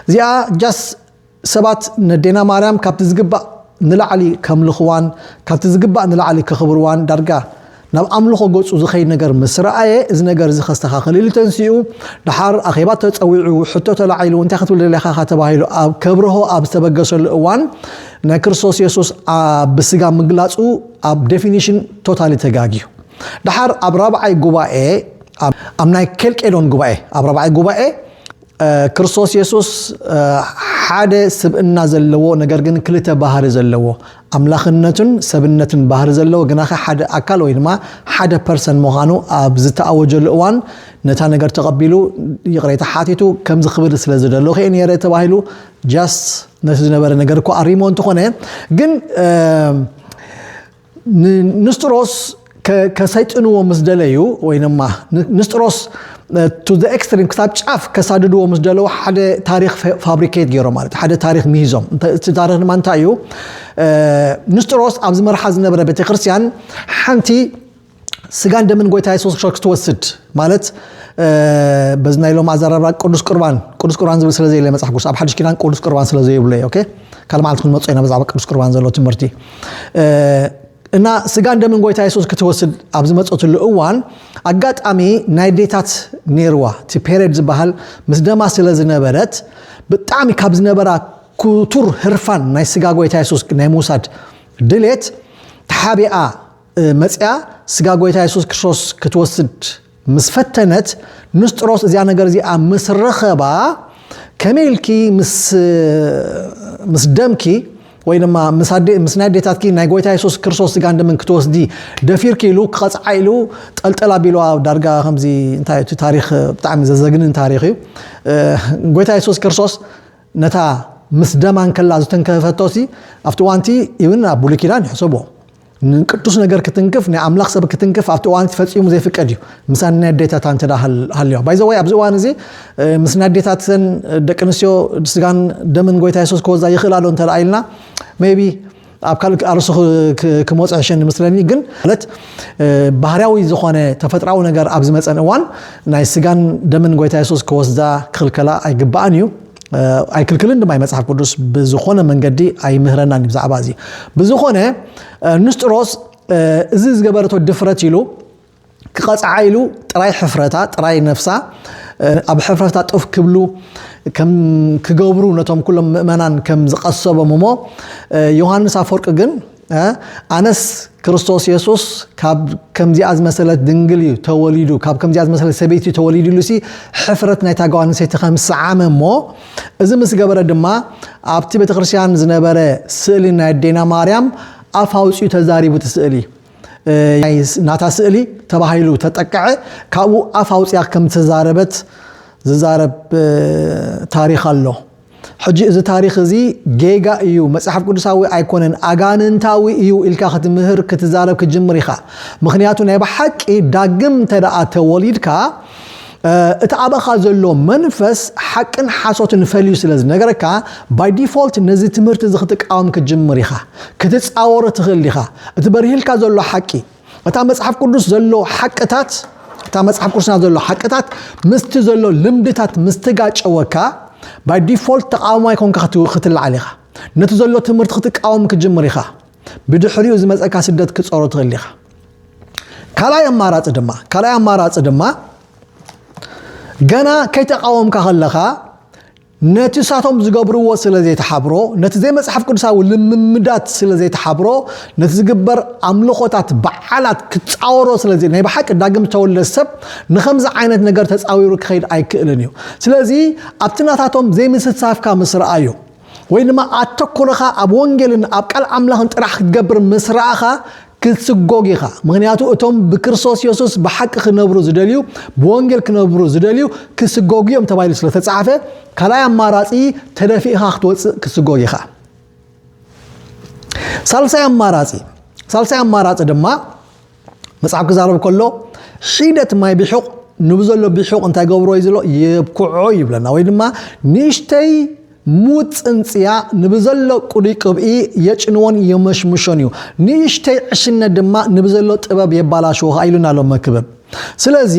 እዚኣ ጃስ ሰባት ነዴና ማርያም ካብቲ ዝግባእ ንላዕሊ ከምልኽዋን ካብቲ ዝግባእ ንላዕሊ ከኽብርዋን ዳርጋ ናብ ኣምልኾ ገጹ ዝኸይድ ነገር ምስ ረኣየ እዚ ነገር እዚ ከስተኻኽል ኢሉ ተንሲኡ ደሓር ኣኼባ ተጸዊዑ ሕቶ ተላዒሉ እንታይ ክትብል ደሊኻ ኢኻ ተባሂሉ ኣብ ከብርሆ ኣብ ዝተበገሰሉ እዋን ናይ ክርስቶስ የሱስ ብስጋ ምግላጹ ኣብ ዴፊኒሽን ቶታሊ ተጋግዩ ደሓር ኣብ ራብዓይ ጉባኤ ኣብ ናይ ኬልቄዶን ጉባኤ ኣብ ራብዓይ ጉባኤ ክርስቶስ የሱስ ሓደ ስብእና ዘለዎ ነገር ግን ክልተ ባህሪ ዘለዎ ኣምላኽነቱን ሰብነትን ባህሪ ዘለዎ ግናኸ ሓደ ኣካል ወይ ድማ ሓደ ፐርሰን ምዃኑ ኣብ ዝተኣወጀሉ እዋን ነታ ነገር ተቐቢሉ ይቕሬታ ሓቲቱ ከምዚ ክብል ስለ ዝደለኹ እየ ነይረ ተባሂሉ ጃስት ነቲ ዝነበረ ነገር እኳ ኣሪሞ እንተኾነ ግን ንንስጥሮስ ከሰይጥንዎ ምስ ደለዩ ወይንማ ንስጥሮስ ቱ ዘ ኤክስትሪም ክሳብ ጫፍ ከሳድድዎ ምስ ደለዉ ሓደ ታሪክ ፋብሪኬት ገይሮም ማለት ሓደ ታሪክ ሚሂዞም እቲ ታሪክ ድማ እንታይ እዩ ንስጥሮስ ኣብዚ መርሓ ዝነበረ ቤተክርስትያን ሓንቲ ስጋን ደምን ጎይታ የሱስ ክርስቶስ ክትወስድ ማለት በዚ ናይ ሎም ኣዘራርባ ቅዱስ ቁርባን ቅዱስ ቁርባን ዝብል ስለ ዘየለ መፅሓፍ ቅዱስ ኣብ ሓድሽ ኪዳን ቅዱስ ቁርባን ስለ ዘየብሎ እዩ ኦኬ ካልእ መዓልቲ ክንመፅኦ ኢና ብዛዕባ ቅዱስ ቁርባን ዘሎ ትምህርቲ እና ስጋን ደምን ጎይታ የሱስ ክትወስድ ኣብ ዝመፀትሉ እዋን ኣጋጣሚ ናይ ዴታት ነይርዋ እቲ ፔሬድ ዝበሃል ምስ ደማ ስለ ዝነበረት ብጣዕሚ ካብ ዝነበራ ክቱር ህርፋን ናይ ስጋ ጎይታ የሱስ ናይ ምውሳድ ድሌት ተሓቢኣ መጺኣ ስጋ ጎይታ የሱስ ክርስቶስ ክትወስድ ምስ ፈተነት ንስጥሮስ እዚኣ ነገር እዚኣ ምስ ረኸባ ከመይ ኢልኪ ምስ ደምኪ ወይ ድማ ምስ ናይ ኣዴታትኪ ናይ ጎይታ የሱስ ክርስቶስ ስጋን ደምን ክትወስዲ ደፊርኪ ኢሉ ክቐፅዓ ኢሉ ጠልጠል ኣቢልዋ ዳርጋ ከምዚ እንታይ እቲ ታሪክ ብጣዕሚ ዘዘግንን ታሪክ እዩ ጎይታ የሱስ ክርስቶስ ነታ ምስ ደማ እንከላ ዝተንከፈቶሲ ኣብቲ ዋንቲ ኢብን ኣብ ብሉይ ኪዳን ይሕሰቦ ንቅዱስ ነገር ክትንክፍ ናይ ኣምላኽ ሰብ ክትንክፍ ኣብቲ እዋን እቲ ፈጺሙ ዘይፍቀድ እዩ ምሳን ናይ ኣዴታታ እንተ ሃልዮ ባይዘወይ ኣብዚ እዋን እዚ ምስ ናይ ኣዴታትን ደቂ ኣንስትዮ ስጋን ደምን ጎይታ የሱስ ክወዛ ይኽእላ ዶ እንተ ኢልና ሜቢ ኣብ ካልእ ኣርሱ ክመፅ ሕሸኒ ምስለኒ ግን ማለት ባህርያዊ ዝኾነ ተፈጥራዊ ነገር ኣብ ዝመፀን እዋን ናይ ስጋን ደምን ጎይታ የሱስ ክወስዳ ክኽልከላ ኣይግባእን እዩ ኣይክልክልን ድማ መጽሓፍ ቅዱስ ብዝኾነ መንገዲ ኣይምህረናን ብዛዕባ እዚ ብዝኾነ ንስጥሮስ እዚ ዝገበረቶ ድፍረት ኢሉ ክቐፅዓ ኢሉ ጥራይ ሕፍረታ ጥራይ ነፍሳ ኣብ ሕፍረታ ጥፍ ክብሉ ክገብሩ ነቶም ኩሎም ምእመናን ከም ዝቐሰቦም እሞ ዮሃንስ ኣፈወርቂ ግን ኣነስ ክርስቶስ የሱስ ካብ ከምዚኣ ዝመሰለት ድንግል እዩ ተወሊዱ ካብ ከምዚኣ ዝመሰለት ሰበይቲ እዩ ተወሊዱ ኢሉሲ ሕፍረት ናይታ ጓል ኣንስተይቲ ከም ሰዓመ እሞ እዚ ምስ ገበረ ድማ ኣብቲ ቤተ ክርስቲያን ዝነበረ ስእሊ ናይ ኣዴና ማርያም ኣፍ ኣውፅኡ ተዛሪቡ እቲ ስእሊ ናታ ስእሊ ተባሂሉ ተጠቀዐ ካብኡ ኣፍ ኣውፅያ ከም ተዛረበት ዝዛረብ ታሪክ ኣሎ ሕጂ እዚ ታሪኽ እዚ ጌጋ እዩ፣ መጽሓፍ ቅዱሳዊ ኣይኮነን፣ ኣጋንንታዊ እዩ ኢልካ ክትምህር ክትዛረብ ክትጅምር ኢኻ። ምኽንያቱ ናይ ብሓቂ ዳግም እንተደኣ ተወሊድካ እቲ ኣብኻ ዘሎ መንፈስ ሓቅን ሓሶትን ፈልዩ ስለ ዝነገረካ ባይ ዲፎልት ነዚ ትምህርቲ እዚ ክትቃወም ክትጅምር ኢኻ። ክትጻወሮ ትኽእል ዲኻ? እቲ በሪህልካ ዘሎ ሓቂ እታ መጽሓፍ ቅዱስ ዘሎ ሓቅታት እታ መጽሓፍ ቅዱስና ዘሎ ሓቅታት ምስቲ ዘሎ ልምድታት ምስትጋጨወካ ባይ ዲፎልት ተቃዋማይ ኮንካ ክትለዓል ኢኻ ነቲ ዘሎ ትምህርቲ ክትቃወም ክጅምር ኢኻ ብድሕሪኡ ዝመፀካ ስደት ክፀሮ ትኽእል ኢኻ ካልኣይ ኣማራፂ ድማ ካልኣይ ኣማራፂ ድማ ገና ከይተቃወምካ ከለኻ ነቲ እሳቶም ዝገብርዎ ስለ ዘይተሓብሮ፣ ነቲ ዘይመጽሓፍ ቅዱሳዊ ልምምዳት ስለ ዘይተሓብሮ፣ ነቲ ዝግበር ኣምልኾታት፣ በዓላት ክጻወሮ ስለ ዘይ ናይ ብሓቂ ዳግም ዝተወልደ ሰብ ንኸምዚ ዓይነት ነገር ተጻዊሩ ክኸይድ ኣይክእልን እዩ። ስለዚ ኣብቲ ናታቶም ዘይምስታፍካ ምስ ረኣዩ ወይ ድማ ኣተኩርኻ ኣብ ወንጌልን ኣብ ቃል ኣምላኽን ጥራሕ ክትገብር ምስ ረኣኻ ክትስጎግ ኢኻ፣ ምኽንያቱ እቶም ብክርስቶስ የሱስ ብሓቂ ክነብሩ ዝደልዩ፣ ብወንጌል ክነብሩ ዝደልዩ ክስጎጉ እዮም ተባሂሉ ስለ ተጻሕፈ፣ ካልኣይ ኣማራጺ ተደፊእኻ ክትወጽእ ክትስጎግ ኢኻ። ሳልሳይ ኣማራጺ ሳልሳይ ኣማራጺ ድማ መጽሓፍ ክዛረብ ከሎ ሒደት ማይ ብሑቕ ንብዘሎ ብሑቕ እንታይ ገብሮ እዩ ዝሎ የብኩዖ ይብለና ወይ ድማ ንእሽተይ ሙት ጽንጽያ ንብዘሎ ቅሉይ ቅብኢ የጭንዎን የመሽምሾን እዩ፣ ንእሽተይ ዕሽነት ድማ ንብዘሎ ጥበብ የባላሽዎ ከኣ ኢሉና ኣሎ መክብብ። ስለዚ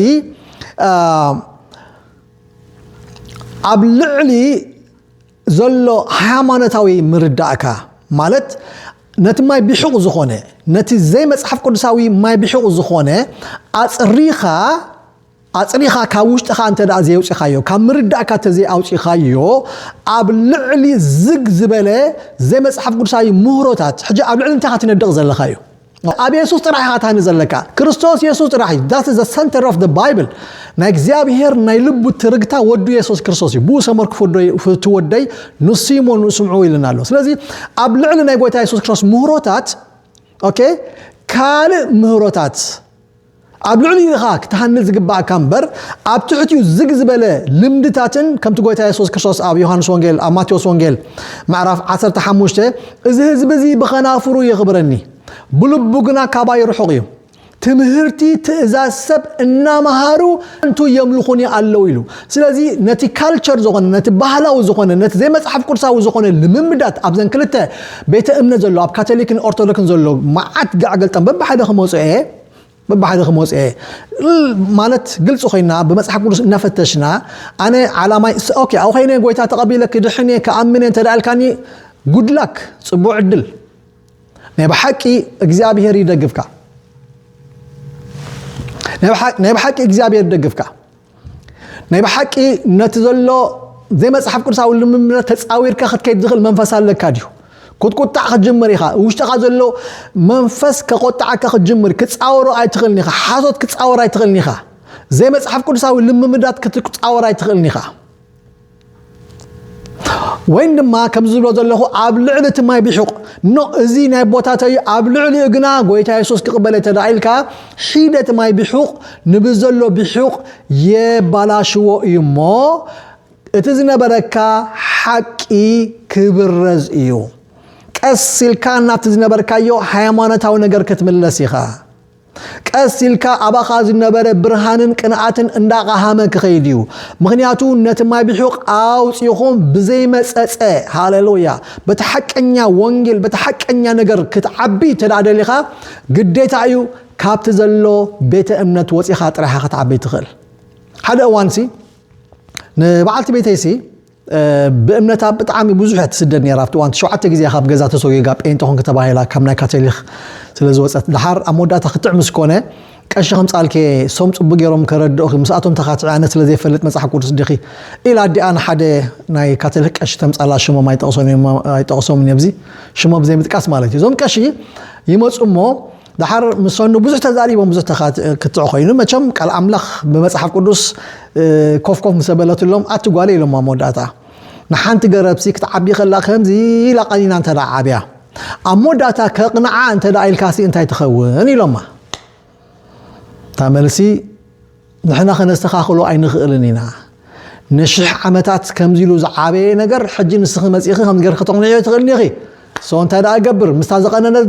ኣብ ልዕሊ ዘሎ ሃይማኖታዊ ምርዳእካ ማለት ነቲ ማይ ቢሑቕ ዝኾነ ነቲ ዘይመጽሓፍ ቅዱሳዊ ማይ ቢሑቕ ዝኾነ ኣጽሪኻ ኣጽሪኻ ካብ ውሽጥኻ እንተ ዘየውጺኻዮ፣ ካብ ምርዳእካ እንተ ዘይኣውጺኻዮ፣ ኣብ ልዕሊ ዝግ ዝበለ ዘይመጽሓፍ ቅዱሳዊ ምህሮታት ሕጂ ኣብ ልዕሊ እንታይ ትነድቕ ዘለኻ እዩ። ኣብ የሱስ ጥራሕ ኢኻ ትሃኒ ዘለካ ክርስቶስ የሱስ ጥራሕ እዩ ዳት ዘ ሰንተር ኦፍ ባይብል ናይ እግዚኣብሄር ናይ ልቡ ትርግታ ወዱ የሱስ ክርስቶስ እዩ ብኡ ሰመር ክፍቱ ወደይ ንሱ እሞ ንስምዑ ኢልና ኣሎ ስለዚ ኣብ ልዕሊ ናይ ጎይታ የሱስ ክርስቶስ ምህሮታት ኦኬ ካልእ ምህሮታት ኣብ ልዕሊኡ ኢኻ ክትሃንጽ ዝግባኣካ እምበር ኣብ ትሕቲኡ ዝግ ዝበለ ልምድታትን ከምቲ ጎይታ የሱስ ክርስቶስ ኣብ ዮሃንስ ወንጌል ኣብ ማቴዎስ ወንጌል ምዕራፍ 15 እዚ ህዝቢ እዚ ብኸናፍሩ የኽብረኒ ብልቡ ግና ካባይ ርሑቕ እዩ ትምህርቲ ትእዛዝ ሰብ እናመሃሩ ከንቱ የምልኹኒ ኣለዉ ኢሉ ስለዚ ነቲ ካልቸር ዝኾነ ነቲ ባህላዊ ዝኾነ ነቲ ዘይመፅሓፍ ቅዱሳዊ ዝኾነ ልምምዳት ኣብዘን ክልተ ቤተ እምነት ዘሎ ኣብ ካቶሊክን ኦርቶዶክስን ዘሎ መዓት ጋዕገልጠም በብሓደ ክመፅኦ እየ በብሓደ ክመፅ እየ ማለት ግልፂ ኮይና ብመፅሓፍ ቅዱስ እናፈተሽና ኣነ ዓላማይ ኦኬ ኣብ ኮይነ ጎይታ ተቐቢለ ክድሕን እየ ክኣምን እየ እንተደኣልካኒ ጉድላክ ፅቡቅ ዕድል ናይ ብሓቂ እግዚኣብሄር ይደግፍካ ናይ ብሓቂ እግዚኣብሄር ይደግፍካ ናይ ብሓቂ ነቲ ዘሎ ዘይመፅሓፍ ቅዱሳዊ ልምምነት ተፃዊርካ ክትከይድ ዝኽእል መንፈስ ኣለካ ድዩ ክትቁጣዕ ክትጅምር ኢኻ ውሽጥኻ ዘሎ መንፈስ ከቆጣዓካ ክትጅምር ክፃወሮ ኣይትኽእልን ኢኻ ሓሶት ክፃወር ኣይትኽእልን ኢኻ ዘይመፅሓፍ ቅዱሳዊ ልምምዳት ክትፃወር ኣይትኽእልን ኢኻ ወይን ድማ ከምዚ ዝብሎ ዘለኹ ኣብ ልዕሊ እቲ ማይ ቢሑቕ ኖ እዚ ናይ ቦታተ እዩ ኣብ ልዕሊኡ ግና ጎይታ የሱስ ክቕበለ ተዳ ኢልካ ሒደት ማይ ቢሑቕ ንብዘሎ ቢሑቕ የባላሽዎ እዩ እሞ እቲ ዝነበረካ ሓቂ ክብረዝ እዩ ቀስ ኢልካ ናብቲ ዝነበርካዮ ሃይማኖታዊ ነገር ክትምለስ ኢኻ ቀስ ኢልካ ኣባኻ ዝነበረ ብርሃንን ቅንኣትን እንዳቐሃመ ክኸይድ እዩ። ምኽንያቱ ነቲ ማይ ብሑቕ ኣውጺኹም ብዘይመጸጸ፣ ሃለሉያ፣ በቲ ሓቀኛ ወንጌል በቲ ሓቀኛ ነገር ክትዓቢ እንተደኣ ደሊኻ ግዴታ እዩ ካብቲ ዘሎ ቤተ እምነት ወጺኻ ጥራይኻ ክትዓቢ ትኽእል። ሓደ እዋንሲ ንበዓልቲ ቤተይሲ ብእምነታ ብጣዕሚ ብዙሕ እያ ትስደድ ነይራ ኣብቲ እዋን ትሸውዓተ ግዜ ካብ ገዛ ተሰጉጋ ጴንጤ ኮንኪ ተባሂላ ካብ ናይ ካቶሊክ ስለ ዝወጸት ድሓር ኣብ መወዳእታ ክትዕ ምስ ኮነ ቀሺ ከምጻልኪ ሶም ጽቡቅ ገይሮም ከረድኡኪ ምስኣቶም ተካትዒ ኣነ ስለ ዘይፈልጥ መጽሓፍ ቅዱስ ዲኺ ኢላ ኣዲኣ ንሓደ ናይ ካቶሊክ ቀሺ ተምጻላ ሽሞም ኣይጠቅሶምን እየ ኣብዚ ሽሞም ዘይምጥቃስ ማለት እዩ እዞም ቀሺ ይመጹ እሞ ደሓር ምስ ሰኑ ብዙሕ ተዛሪቦም ብዙሕ ክትዕ ኮይኑ መቸም ቃል ኣምላኽ ብመጽሓፍ ቅዱስ ኮፍ ኮፍ ምስ በለትሎም ኣቲ ጓለ ኢሎም ኣብ መወዳእታ ንሓንቲ ገረብሲ ክትዓቢ ከላ ከምዚ ኢላ ቀኒና እንተ ዓብያ ኣብ መወዳእታ ከቕንዓ እንተ ኢልካሲ እንታይ ትኸውን ኢሎማ እታ መልሲ ንሕና ከነስተኻኽሎ ኣይንኽእልን ኢና። ንሽሕ ዓመታት ከምዚ ኢሉ ዝዓበየ ነገር ሕጂ ንስኺ መጺእኺ ከምዚ ገርኪ ከተቕንዕዮ ትኽእልኒ ኢኺ። ሰው እንታይ ደኣ እገብር? ምስታ ዝቐነነት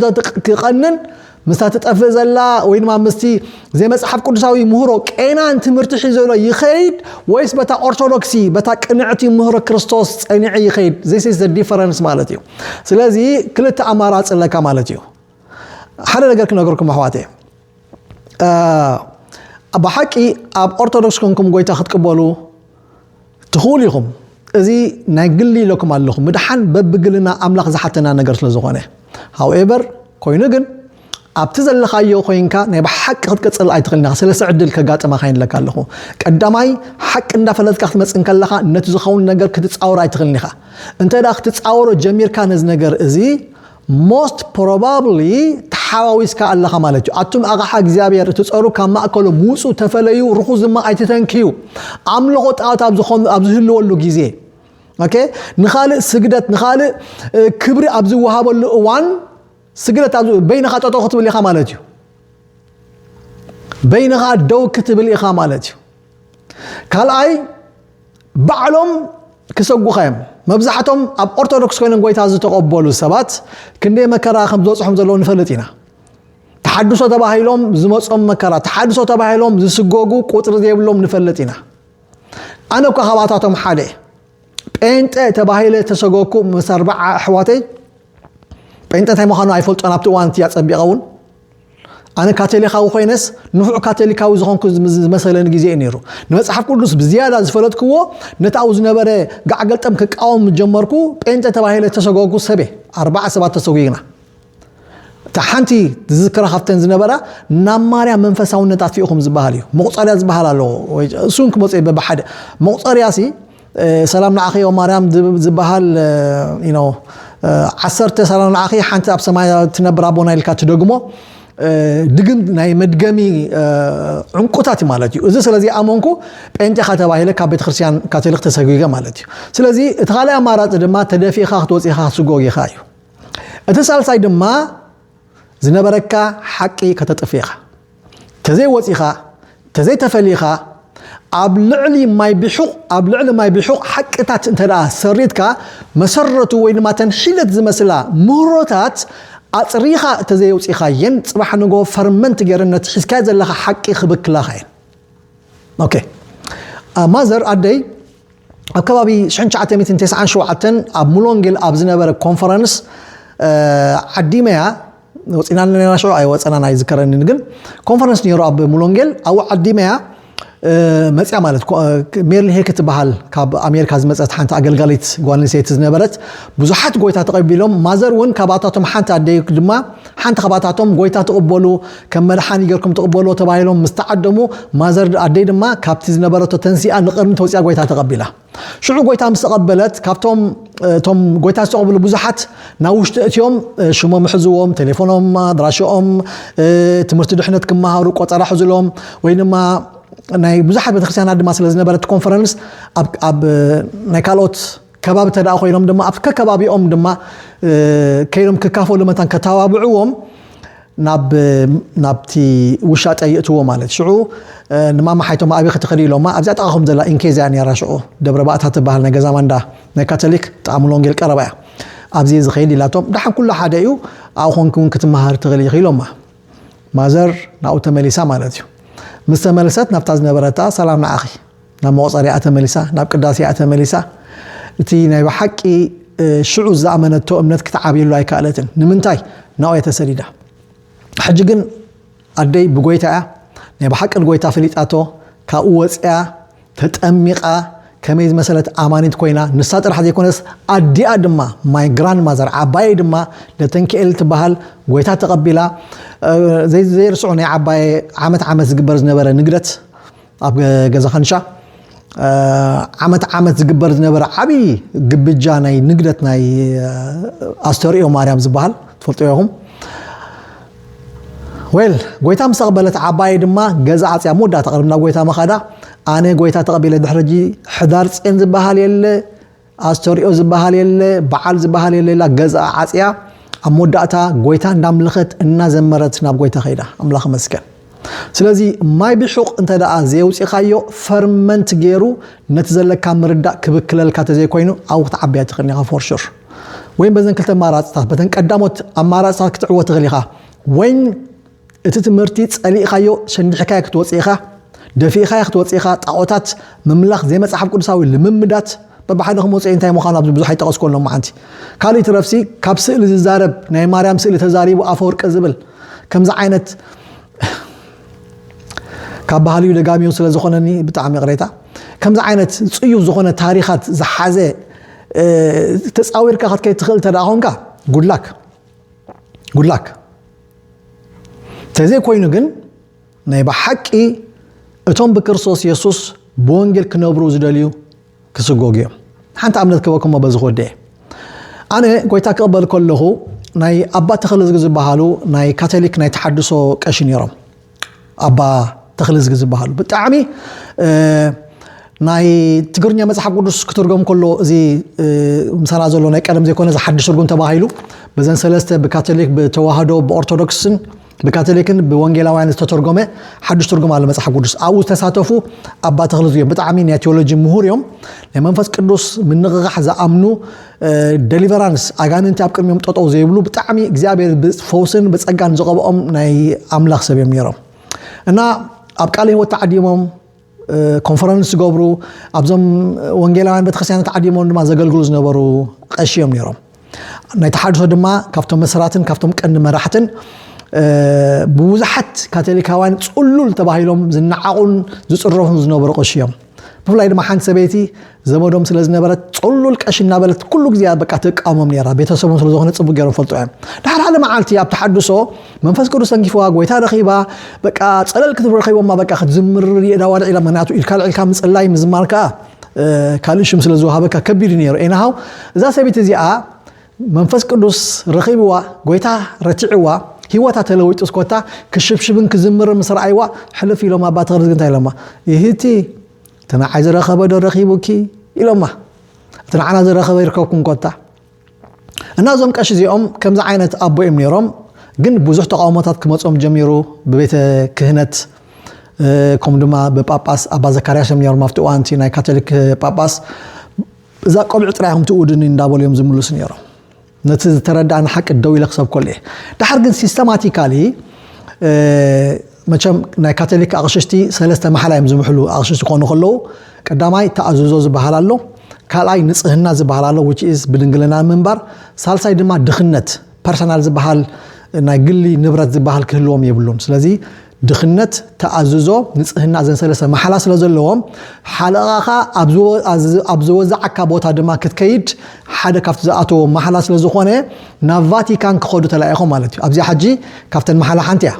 ክቐንን ምስታ ትጠፍእ ዘላ ወይ ድማ ምስቲ ዘይመጽሓፍ ቅዱሳዊ ምህሮ ቄናን ትምህርቲ ሒዘሎ ይኸይድ ወይስ በታ ኦርቶዶክሲ በታ ቅንዕቲ ምህሮ ክርስቶስ ጸኒዐ ይኸይድ? ዚስ ኢዝ ዘ ዲፈረንስ ማለት እዩ። ስለዚ ክልተ ኣማራጺ ኣለካ ማለት እዩ። ሓደ ነገር ክነገርኩም ኣሕዋተይ ብሓቂ ኣብ ኦርቶዶክስ ኮንኩም ጎይታ ክትቅበሉ ትኽእሉ ኢኹም እዚ ናይ ግሊ ኢለኩም ኣለኹ ምድሓን በብግልና ኣምላኽ ዝሓተና ነገር ስለ ዝኾነ ሃውኤቨር ኮይኑ ግን ኣብቲ ዘለኻዮ ኮይንካ ናይ ብሓቂ ክትቅፅል ኣይትኽእልና ሰለስተ ዕድል ከጋጥመካ ይንለካ ኣለኹ ቀዳማይ ሓቂ እንዳፈለጥካ ክትመፅእ ከለኻ ነቲ ዝኸውን ነገር ክትፃወር ኣይትኽእልን ኢኻ እንተ ክትፃወሮ ጀሚርካ ነዚ ነገር እዚ Most probably ተሓዋዊስካ ኣለኻ ማለት እዩ። ኣቱም ኣቕሓ እግዚኣብሔር እትጸሩ ካብ ማእከሎም ውጹ፣ ተፈለዩ፣ ርኹስ ድማ ኣይትተንክዩ። ኣምልኾ ጣዖት ኣብ ዝኾኑ ኣብ ዝህልወሉ ግዜ ኦኬ ንኻልእ ስግደት ንኻልእ ክብሪ ኣብ ዝወሃበሉ እዋን ስግደት ኣብ በይንኻ ጠጠው ክትብል ኢኻ ማለት እዩ። በይንኻ ደው ክትብል ኢኻ ማለት እዩ። ካልኣይ ባዕሎም ክሰጉኻ እዮም መብዛሕቶም ኣብ ኦርቶዶክስ ኮይኖም ጎይታ ዝተቐበሉ ሰባት ክንደይ መከራ ከም ዝበፅሖም ዘለዎ ንፈልጥ ኢና ተሓድሶ ተባሂሎም ዝመፆም መከራ ተሓድሶ ተባሂሎም ዝስጎጉ ቁፅሪ ዘይብሎም ንፈልጥ ኢና ኣነ እኳ ካብኣታቶም ሓደ ጴንጠ ተባሂለ ተሰጎኩ ምስ ኣርባዓ ኣሕዋተይ ጴንጠ እንታይ ምዃኑ ኣይፈልጦን ኣብቲ እዋን እቲ ኣፀቢቐ እውን ኣነ ካቶሊካዊ ኮይነስ ንፉዕ ካቶሊካዊ ዝኾንኩ ዝመሰለኒ ግዜ እዩ ነይሩ ንመፅሓፍ ቅዱስ ብዝያዳ ዝፈለጥክዎ ነቲ ኣብኡ ዝነበረ ጋዕገልጠም ክቃወም ምጀመርኩ ጴንጤ ተባሂለ ተሰጎግኩ ሰበ ኣርባዓ ሰባት ተሰጉግና እታ ሓንቲ ዝዝክራ ካብተን ዝነበራ ናብ ማርያ መንፈሳውነት ኣትፊእኹም ዝበሃል እዩ መቁፀርያ ዝበሃል ኣለዎ እሱን ክመፁ በብሓደ መቁፀርያ ሲ ሰላም ንዓኺ ኦም ማርያም ዝብሃል ዩኖ ዓሰርተ ሰላም ንዓኺ ሓንቲ ኣብ ሰማይ ትነብር ኣቦና ኢልካ ትደግሞ ድግም ናይ መድገሚ ዕንቁታት እዩ ማለት እዩ እዚ ስለዚ ኣመንኩ ጴንጤኻ ተባሂለ ካብ ቤተክርስትያን ካቶሊክ ተሰጒገ ማለት እዩ ስለዚ እቲ ካልእ ኣማራፂ ድማ ተደፊእኻ ክትወፂኻ ክትስጎግ ኢኻ እዩ እቲ ሳልሳይ ድማ ዝነበረካ ሓቂ ከተጥፍ ኢኻ ተዘይ ወጺኻ ተዘይ ተፈሊኻ ኣብ ልዕሊ ማይ ቢሑቕ ኣብ ልዕሊ ማይ ቢሑቕ ሓቅታት እንተ ሰሪትካ መሰረቱ ወይ ድማ ተን ሒለት ዝመስላ ምህሮታት ኣጽሪኻ እተዘየውፂኻየን ፅባሕ ንጎ ፈርመንት ገይረን ነቲ ሒዝካዮ ዘለኻ ሓቂ ክብክላኻ እየን ኦኬ ማዘር ኣደይ ኣብ ከባቢ ሽሕን ትሽዓተ ሚእትን ቴስዓን ሸውዓተን ኣብ ሙሎንጌል ኣብ ዝነበረ ኮንፈረንስ ዓዲመያ ወፂና ነና ሽዑ ኣይወፀናን ኣይዝከረንን ግን ኮንፈረንስ ነይሩ ኣብ ሙሎንጌል ኣብኡ ዓዲመያ መፅያ ማለት ሜርሊ ሄክ ትበሃል ካብ ኣሜሪካ ዝመፀት ሓንቲ ኣገልጋሊት ጓል ኣንስተይቲ ዝነበረት ብዙሓት ጎይታ ተቐቢሎም ማዘር እውን ካብኣታቶም ሓንቲ ኣደይ ድማ ሓንቲ ኻባታቶም ጐይታ ትቕበሉ፣ ከም መድሓኒ ጌርኩም ትቕበልዎ ተባሂሎም ምስ ተዓደሙ፣ ማዘር ኣደይ ድማ ካብቲ ዝነበረቶ ተንሲኣ ንቕድሚት ወጺኣ ጐይታ ተቐቢላ። ሽዑ ጐይታ ምስ ተቐበለት ካብቶም እቶም ጐይታ ዝተቐብሉ ብዙሓት ናብ ውሽጢ እትዮም ሽሞም እሕዝዎም፣ ቴሌፎኖም፣ ኣድራሽኦም፣ ትምህርቲ ድሕነት ክመሃሩ ቆጸራ ሕዝሎም ወይ ድማ ናይ ብዙሓት ቤተክርስትያናት ድማ ስለ ዝነበረ እቲ ኮንፈረንስ ኣብ ናይ ካልኦት ከባቢ እንተደኣ ኮይኖም ድማ ኣብቲ ከከባቢኦም ድማ ከይዶም ክካፈሉ መታን ከተባብዕዎም ናብ ናብቲ ውሻጠ ይእትዎ ማለት ሽዑ ንማማ ሓይቶማ ኣበይ ክትኸዲ ኢሎማ ኣብዚኣ ጥቓኹም ዘላ ኢንኬዝ እያ ነይራ ሽዑ ደብረ ባእታ ትበሃል ናይ ገዛ ማንዳ ናይ ካቶሊክ ጥቓ ሙሉ ወንጌል ቀረባ እያ ኣብዚ እዚ ከይድ ኢላቶም ደሓን ኩሉ ሓደ እዩ ኣብኡ ኮንኪ እውን ክትመሃር ትኽእሊ ኢኺ ኢሎማ ማዘር ናብኡ ተመሊሳ ማለት እዩ ምስ ተመልሰት ናብታ ዝነበረታ ሰላም ንዓኺ ናብ መቑጸርያኣ ተመሊሳ፣ ናብ ቅዳሴኣ ተመሊሳ፣ እቲ ናይ ብሓቂ ሽዑ ዝኣመነቶ እምነት ክትዓብየሉ ኣይከኣለትን። ንምንታይ? ናብኡ እያ ተሰዲዳ። ሕጂ ግን ኣደይ ብጎይታ እያ፣ ናይ ብሓቂ ንጎይታ ፈሊጣቶ፣ ካብኡ ወጺኣ ተጠሚቓ ከመይ ዝመሰለት ኣማኒት ኮይና፣ ንሳ ጥራሕ ዘይኮነስ ኣዲኣ ድማ ማይ ግራንድ ማዘር ዓባየይ ድማ ለተንኪኤል ትበሃል ጎይታ ተቐቢላ፣ ዘይርስዑ ናይ ዓባየ ዓመት ዓመት ዝግበር ዝነበረ ንግደት ኣብ ገዛ ካንሻ ዓመት ዓመት ዝግበር ዝነበረ ዓብዪ ግብጃ ናይ ንግደት ናይ ኣስተርእዮ ማርያም ዝበሃል ትፈልጦ ኢኹም ወል ጎይታ ምስ ተቐበለት ዓባየ ድማ ገዛ ዓፅያ መወዳእታ ቅድም ናብ ጎይታ መኻዳ ኣነ ጎይታ ተቐቢለ ድሕሪ ሕዳር ፅን ዝበሃል የለ ኣስተርእዮ ዝበሃል የለ በዓል ዝበሃል የለ ኢላ ገዝኣ ዓጽያ ኣብ መወዳእታ ጎይታ እንዳምለኸት እናዘመረት ናብ ጎይታ ከይዳ ኣምላኽ መስገን ስለዚ ማይ ብሑቕ እንተ ደኣ ዘየውፂኻዮ ፈርመንት ገይሩ ነቲ ዘለካ ምርዳእ ክብክለልካ ተዘይኮይኑ ኣብኡ ክትዓብያ ትኽእል ኢኻ ፎርሹር ወይም በዘን ክልተ ኣማራፅታት በተን ቀዳሞት ኣማራፅታት ክትዕወ ትኽእል ኢኻ ወይም እቲ ትምህርቲ ጸሊእካዮ ሸንዲሕካዮ ክትወጽእ ኢኻ፣ ደፊእኻዮ ክትወጽእ ኢኻ፣ ጣኦታት ምምላኽ ዘይመጽሓፍ ቅዱሳዊ ልምምዳት በብሓደ ክመጽኡ'የ እንታይ ምዃኑ ኣብዚ ብዙሕ ኣይጠቐስኩዎን ሎምዓንቲ። ካልእ ይትረፍሲ ካብ ስእሊ ዝዛረብ ናይ ማርያም ስእሊ ተዛሪቡ ኣፈወርቂ ዝብል ከምዚ ዓይነት ካብ ባህልዩ ደጋሚዩ ስለ ዝኾነኒ ብጣዕሚ ይቕሬታ ከምዚ ዓይነት ጽዩፍ ዝኾነ ታሪኻት ዝሓዘ ተጻዊርካ ክትከይድ ትኽእል እንተ ደኣ ኮንካ ጉድላክ ጉድላክ ተዘይኮይኑ ግን ናይ ብሓቂ እቶም ብክርስቶስ የሱስ ብወንጌል ክነብሩ ዝደልዩ ክስጎጉ እዮም ሓንቲ ኣብነት ክበኩም በዚ ክወደ እየ ኣነ ጎይታ ክቕበል ከለኹ ናይ ኣባ ተኸለዝጊ ዝበሃሉ ናይ ካቶሊክ ናይ ተሓድሶ ቀሺ ነይሮም ኣባ ተኽልዝጊ ዝበሃሉ ብጣዕሚ ናይ ትግርኛ መጽሓፍ ቅዱስ ክትርጎም ከሎ እዚ ምሳና ዘሎ ናይ ቀደም ዘይኮነ እዚ ሓድሽ ትርጉም ተባሂሉ በዘን ሰለስተ ብካቶሊክ ብተዋህዶ ብኦርቶዶክስን ብካቶሊክን ብወንጌላውያን ዝተተርጎመ ሓዱሽ ትርጉም ኣሎ መፅሓፍ ቅዱስ ኣብኡ ዝተሳተፉ ኣባ ተክለ እዮም ብጣዕሚ ናይ ቴዎሎጂ ምሁር እዮም ናይ መንፈስ ቅዱስ ምንቕቓሕ ዝኣምኑ ደሊቨራንስ ኣጋንንቲ ኣብ ቅድሚኦም ጠጠው ዘይብሉ ብጣዕሚ እግዚኣብሔር ብፈውስን ብፀጋን ዝቐብኦም ናይ ኣምላኽ ሰብ እዮም ነይሮም እና ኣብ ቃለ ህይወት ተዓዲሞም ኮንፈረንስ ዝገብሩ ኣብዞም ወንጌላውያን ቤተክርስትያናት ተዓዲሞም ድማ ዘገልግሉ ዝነበሩ ቀሺ እዮም ነይሮም ናይ ተሓድሶ ድማ ካብቶም መስራትን ካብቶም ቀንዲ መራሕትን ብብዙሓት ካቶሊካውያን ፅሉል ተባሂሎም ዝነዓቑን ዝፅረፉን ዝነበሩ ቀሺ እዮም ብፍላይ ድማ ሓንቲ ሰበይቲ ዘመዶም ስለ ዝነበረት ጽሉል ቀሺ እናበለት ኩሉ ግዜ በቃ ትቃወሞም ነራ ቤተሰቦም ስለ ዝኾነ ጽቡቅ ገይሮም ፈልጦ እዮም ድሓር ሓደ መዓልቲ ኣብ ተሓድሶ መንፈስ ቅዱስ ተንኪፍዋ ጎይታ ረኺባ በቃ ጸለል ክትብል ረኺቦማ በቃ ክትዝምር የዳ ዋድዕ ኢላ ምክንያቱ ኢልካ ልዒልካ ምጽላይ ምዝማር ከዓ ካልእ ሽም ስለ ዝወሃበካ ከቢድ ነይሩ ኤናሃው እዛ ሰበይቲ እዚኣ መንፈስ ቅዱስ ረኺብዋ፣ ጎይታ ረቲዕዋ፣ ህይወታ ተለዊጡስ ኮታ ክሽብሽብን ክዝምርን ምስ ረኣይዋ ሕልፍ ኢሎማ ኣባ ተክልዝጊ እንታይ ኢሎማ ይህቲ እቲ ንዓይ ዝረኸበ ዶ ረኺቡኪ ኢሎማ እቲ ንዓና ዝረኸበ ይርከብኩም ኮታ እና እዞም ቀሺ እዚኦም ከምዚ ዓይነት ኣቦ እዮም ነይሮም ግን ብዙሕ ተቃውሞታት ክመፆም ጀሚሩ ብቤተ ክህነት ከምኡ ድማ ብጳጳስ ኣባ ዘካርያስ እዮም ነይሮም ኣብቲ እዋንቲ ናይ ካቶሊክ ጳጳስ እዛ ቆልዑ ጥራይ ኢኹም ትእውዱኒ እንዳበሉ እዮም ዝምልሱ ነይሮም። ነቲ ዝተረድኣኒ ሓቂ ደው ኢለ ክሰብከሉ እየ። ድሓር ግን ሲስተማቲካሊ መቸም ናይ ካቶሊክ ኣቕሽሽቲ ሰለስተ ማሓላ እዮም ዝምሕሉ ኣቕሽሽቲ ክኾኑ ከለዉ ቀዳማይ ተኣዝዞ ዝበሃል ኣሎ ካልኣይ ንጽህና ዝበሃል ኣሎ ብድንግልና ምንባር ሳልሳይ ድማ ድኽነት ፐርሰናል ዝበሃል ናይ ግሊ ንብረት ዝበሃል ክህልዎም የብሉን ስለዚ ድኽነት ተኣዝዞ ንጽህና ዘንሰለሰ መሓላ ስለ ዘለዎም ሓለቓኻ ኣብ ዝወዛዓካ ቦታ ድማ ክትከይድ ሓደ ካብቲ ዝኣተዎ መሓላ ስለ ዝኾነ ናብ ቫቲካን ክኸዱ ተላኢኾም ማለት እዩ ኣብዚኣ ሓጂ ካብተን መሓላ ሓንቲ እያ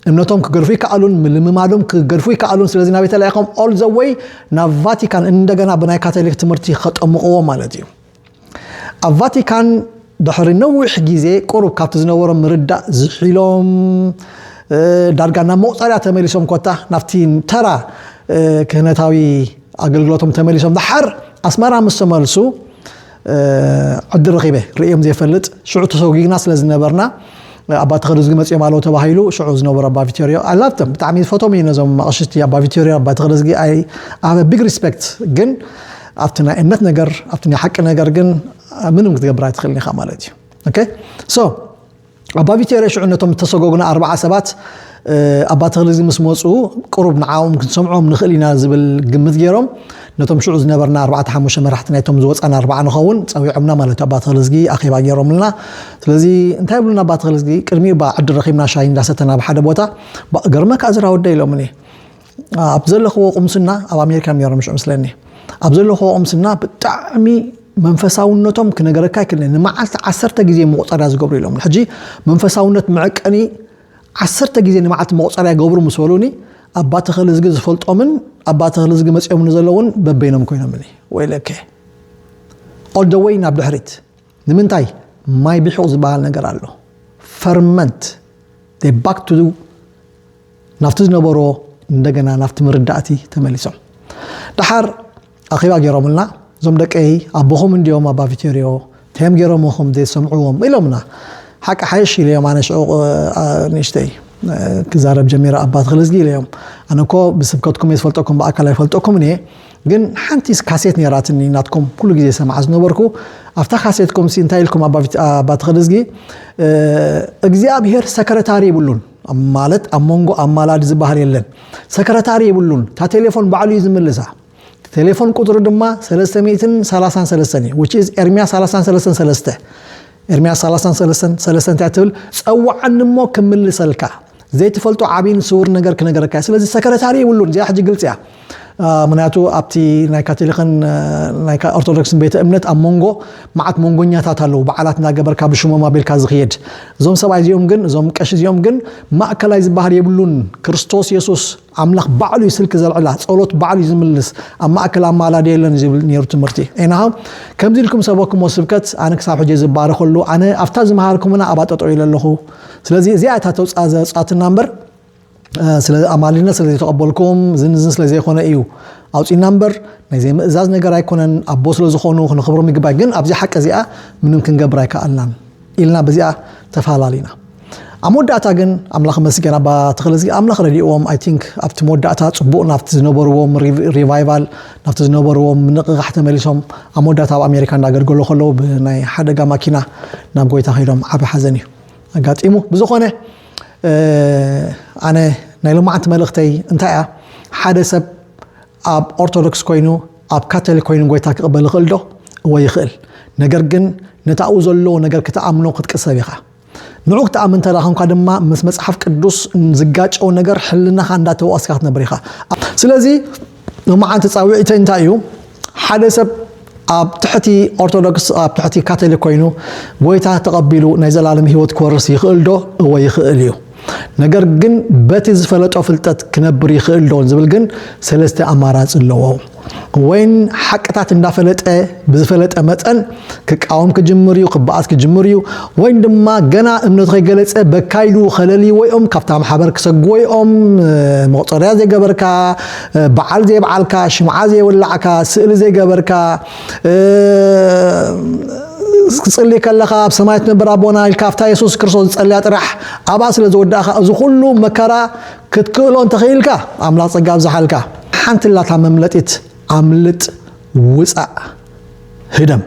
እምነቶም ክገድፉ ይከኣሉን ምልምማዶም ክገድፉ ይከኣሉን ስለዚ ናበይ ተላኢኾም ኦል ዘወይ ናብ ቫቲካን እንደገና ብናይ ካቶሊክ ትምህርቲ ከጠምቕዎ ማለት እዩ ኣብ ቫቲካን ድሕሪ ነዊሕ ግዜ ቁሩብ ካብቲ ዝነበሮም ምርዳእ ዝሒሎም ዳርጋ ናብ መቑፀርያ ተመሊሶም ኮታ ናብቲ ተራ ክህነታዊ ኣገልግሎቶም ተመሊሶም ድሓር ኣስመራ ምስ ተመልሱ ዕድል ረኺበ ርእዮም ዘይፈልጥ ሽዑ ተሰጉግና ስለ ዝነበርና ኣባ ተኸደዝጊ መፅኦም ኣለዉ ተባሂሉ ሽዑ ዝነበሩ ኣባ ቪቶሪዮ ኣላብቶም ብጣዕሚ ዝፈቶም እዩ ነዞም ኣቕሽቲ ኣባ ቪቶሪዮ ኣባ ተኸደዝጊ ኣይ ኣበ ቢግ ሪስፔክት ግን ኣብቲ ናይ እምነት ነገር ኣብቲ ናይ ሓቂ ነገር ግን ምንም ክትገብር ኣይትኽእልን ኢኻ ማለት እዩ ኦኬ ሶ ኣባ ቪቴሬ ሽዑ ነቶም እተሰጎጉና ኣርባዓ ሰባት ኣባ ተኽሊ እዚ ምስ መፁ ቅሩብ ንዓኦም ክንሰምዖም ንኽእል ኢና ዝብል ግምት ገይሮም ነቶም ሽዑ ዝነበርና ኣርባዕተ ሓሙሽተ መራሕቲ ናይቶም ዝወፃና ኣርባዓ ንኸውን ፀዊዖምና ማለት ኣባ ተኽሊ እዝጊ ኣኼባ ገይሮምልና ስለዚ እንታይ ብሉና ኣባ ተኽሊ እዝጊ ቅድሚኡ ባ ዕድል ረኺብና ሻሂ እንዳሰተና ኣብ ሓደ ቦታ ገርመካ እዚ ራወደ ኢሎምኒ ኣብ ዘለኽዎ ቁምስና ኣብ ኣሜሪካ ነሮም ሽዑ ምስለኒ ኣብ ዘለኽዎ ቁምስና ብጣዕሚ መንፈሳውነቶም ክነገረካ ይክእል ንመዓልቲ ዓሰርተ ግዜ መቁፀርያ ዝገብሩ ኢሎም ሕጂ መንፈሳውነት መዕቀኒ ዓሰርተ ግዜ ንመዓልቲ መቁፀርያ ይገብሩ ምስ በሉኒ ኣባ ተኸሊ ዝጊ ዝፈልጦምን ኣባ ተኸሊ ዝጊ መፅኦም ንዘለውን በበይኖም ኮይኖምኒ ወይለከ ኦልደወይ ናብ ድሕሪት ንምንታይ ማይ ቢሑቕ ዝበሃል ነገር ኣሎ ፈርመንት ባክ ቱ ናብቲ ዝነበሮ እንደገና ናብቲ ምርዳእቲ ተመሊሶም ደሓር ኣኼባ ገይሮምልና እዞም ደቀይ ኣቦኹም እንዲኦም ኣባ ቪቴርዮ ተም ገይሮምኹም ዘይሰምዕዎም ኢሎምና ሓቂ ሓይሽ ኢለዮም ኣነ ሽዑ ንእሽተይ ክዛረብ ጀሚረ ኣባ ተክለዝጊ ኢለዮም ኣነ እኮ ብስብከትኩም እየ ዝፈልጠኩም ብኣካል ኣይፈልጠኩምን እየ ግን ሓንቲ ካሴት ነራትኒ ናትኩም ኩሉ ግዜ ሰማዓ ዝነበርኩ ኣብታ ካሴትኩም ሲ እንታይ ኢልኩም ኣባ ተኸደዝጊ እግዚኣብሄር ሰክረታሪ ይብሉን ማለት ኣብ መንጎ ኣማላዲ ዝበሃል የለን ሰክረታሪ የብሉን እታ ቴሌፎን ባዕሉ እዩ ዝምልሳ ቴሌፎን ቁፅሪ ድማ 333 እዩ which is ኤርሚያ 333 ኤርሚያ 333 እንታይ ትብል ፀዋዓኒ እሞ ክምልሰልካ ዘይትፈልጦ ዓብይን ስውር ነገር ክነገረካ ስለዚ ሰክረታሪ ይብሉን እዚኣ ሕጂ ግልፂ እያ ምክንያቱ ኣብቲ ናይ ካቶሊክን ናይ ኦርቶዶክስን ቤተ እምነት ኣብ መንጎ መዓት መንጎኛታት ኣለዉ በዓላት እናገበርካ ብሽሞም ኣቢልካ ዝኽየድ እዞም ሰብኣይ እዚኦም ግን እዞም ቀሺ እዚኦም ግን ማእከላይ ዝበሃል የብሉን ክርስቶስ የሱስ ኣምላኽ ባዕሉ እዩ ስልኪ ዘልዕላ ጸሎት ባዕሉ እዩ ዝምልስ ኣብ ማእከል ኣማላዲ የለን እዩ ዝብል ነይሩ ትምህርቲ ኤናሃ ከምዚ ኢልኩም ሰበክሞ ስብከት ኣነ ክሳብ ሕጂ ዝባረኸሉ ኣነ ኣብታ ዝመሃርኩምና ኣባጠጠው ኢለ ኣለኹ ስለዚ እዚኣ እታ ተውፃ ዘውፃትና እምበር ኣማልድነት ስለ ዘይተቐበልኩም እዝን እዝን ስለ ዘይኮነ እዩ ኣውፂና እምበር ናይ ዘይምእዛዝ ነገር ኣይኮነን ኣቦ ስለ ዝኾኑ ክንኽብሮም ይግባእ ግን ኣብዚ ሓቂ እዚኣ ምንም ክንገብር ኣይከኣልናን ኢልና በዚኣ ተፈላለና ኣብ መወዳእታ ግን ኣምላኽ መስገን ኣባ ተኽለዝጊ ኣምላኽ ረድእዎም ኣይ ቲንክ ኣብቲ መወዳእታ ፅቡቅ ናብቲ ዝነበርዎም ሪቫይቫል ናብቲ ዝነበርዎም ምንቕቓሕ ተመሊሶም ኣብ መወዳእታ ኣብ ኣሜሪካ እንዳገልገሉ ከለዉ ብናይ ሓደጋ ማኪና ናብ ጎይታ ከይዶም ዓብ ሓዘን እዩ ኣጋጢሙ ብዝኾነ ኣነ ናይ ሎማዓንቲ መልእኽተይ እንታይ እያ ሓደ ሰብ ኣብ ኦርቶዶክስ ኮይኑ ኣብ ካቶሊክ ኮይኑ ጎይታ ክቕበል ይኽእል ዶ እወ ይኽእል ነገር ግን ነቲ ኣብኡ ዘሎ ነገር ክትኣምኖ ክትቅሰብ ኢኻ ንዑ ክትኣምን እንተ ኮንካ ድማ ምስ መጽሓፍ ቅዱስ ዝጋጨው ነገር ሕልናኻ እንዳተዋስካ ክትነብር ኢኻ ስለዚ ሎማዓንቲ ፃዊዒተይ እንታይ እዩ ሓደ ሰብ ኣብ ትሕቲ ኦርቶዶክስ ኣብ ትሕቲ ካቶሊክ ኮይኑ ጎይታ ተቐቢሉ ናይ ዘላለም ህይወት ክወርስ ይኽእል ዶ? እወ ይኽእል እዩ። ነገር ግን በቲ ዝፈለጦ ፍልጠት ክነብር ይኽእል ዶ ዝብል ግን ሰለስተ ኣማራፂ ኣለዎ። ወይን ሓቅታት እንዳፈለጠ ብዝፈለጠ መጠን ክቃወም ክጅምር እዩ፣ ክበኣስ ክጅምር እዩ፣ ወይም ድማ ገና እምነቱ ከይገለጸ በካይሉ ከለልይዎ እዮም፣ ካብታ ማሕበር ክሰግዎ እዮም፣ መቑጸርያ ዘይገበርካ፣ በዓል ዘይበዓልካ፣ ሽምዓ ዘይወላዕካ፣ ስእሊ ዘይገበርካ፣ ክትጽሊ ከለኻ ኣብ ሰማይ ትነብር ኣቦና ኢልካ ኣብታ የሱስ ክርስቶስ ዝጸልያ ጥራሕ ኣብኣ ስለ ዝወዳእኻ እዚ ኩሉ መከራ ክትክእሎ እንተኽኢልካ ኣምላኽ ጸጋ ኣብዝሓልካ። ሓንቲ ኣላታ መምለጢት ኣምልጥ ውጻእ። ህደም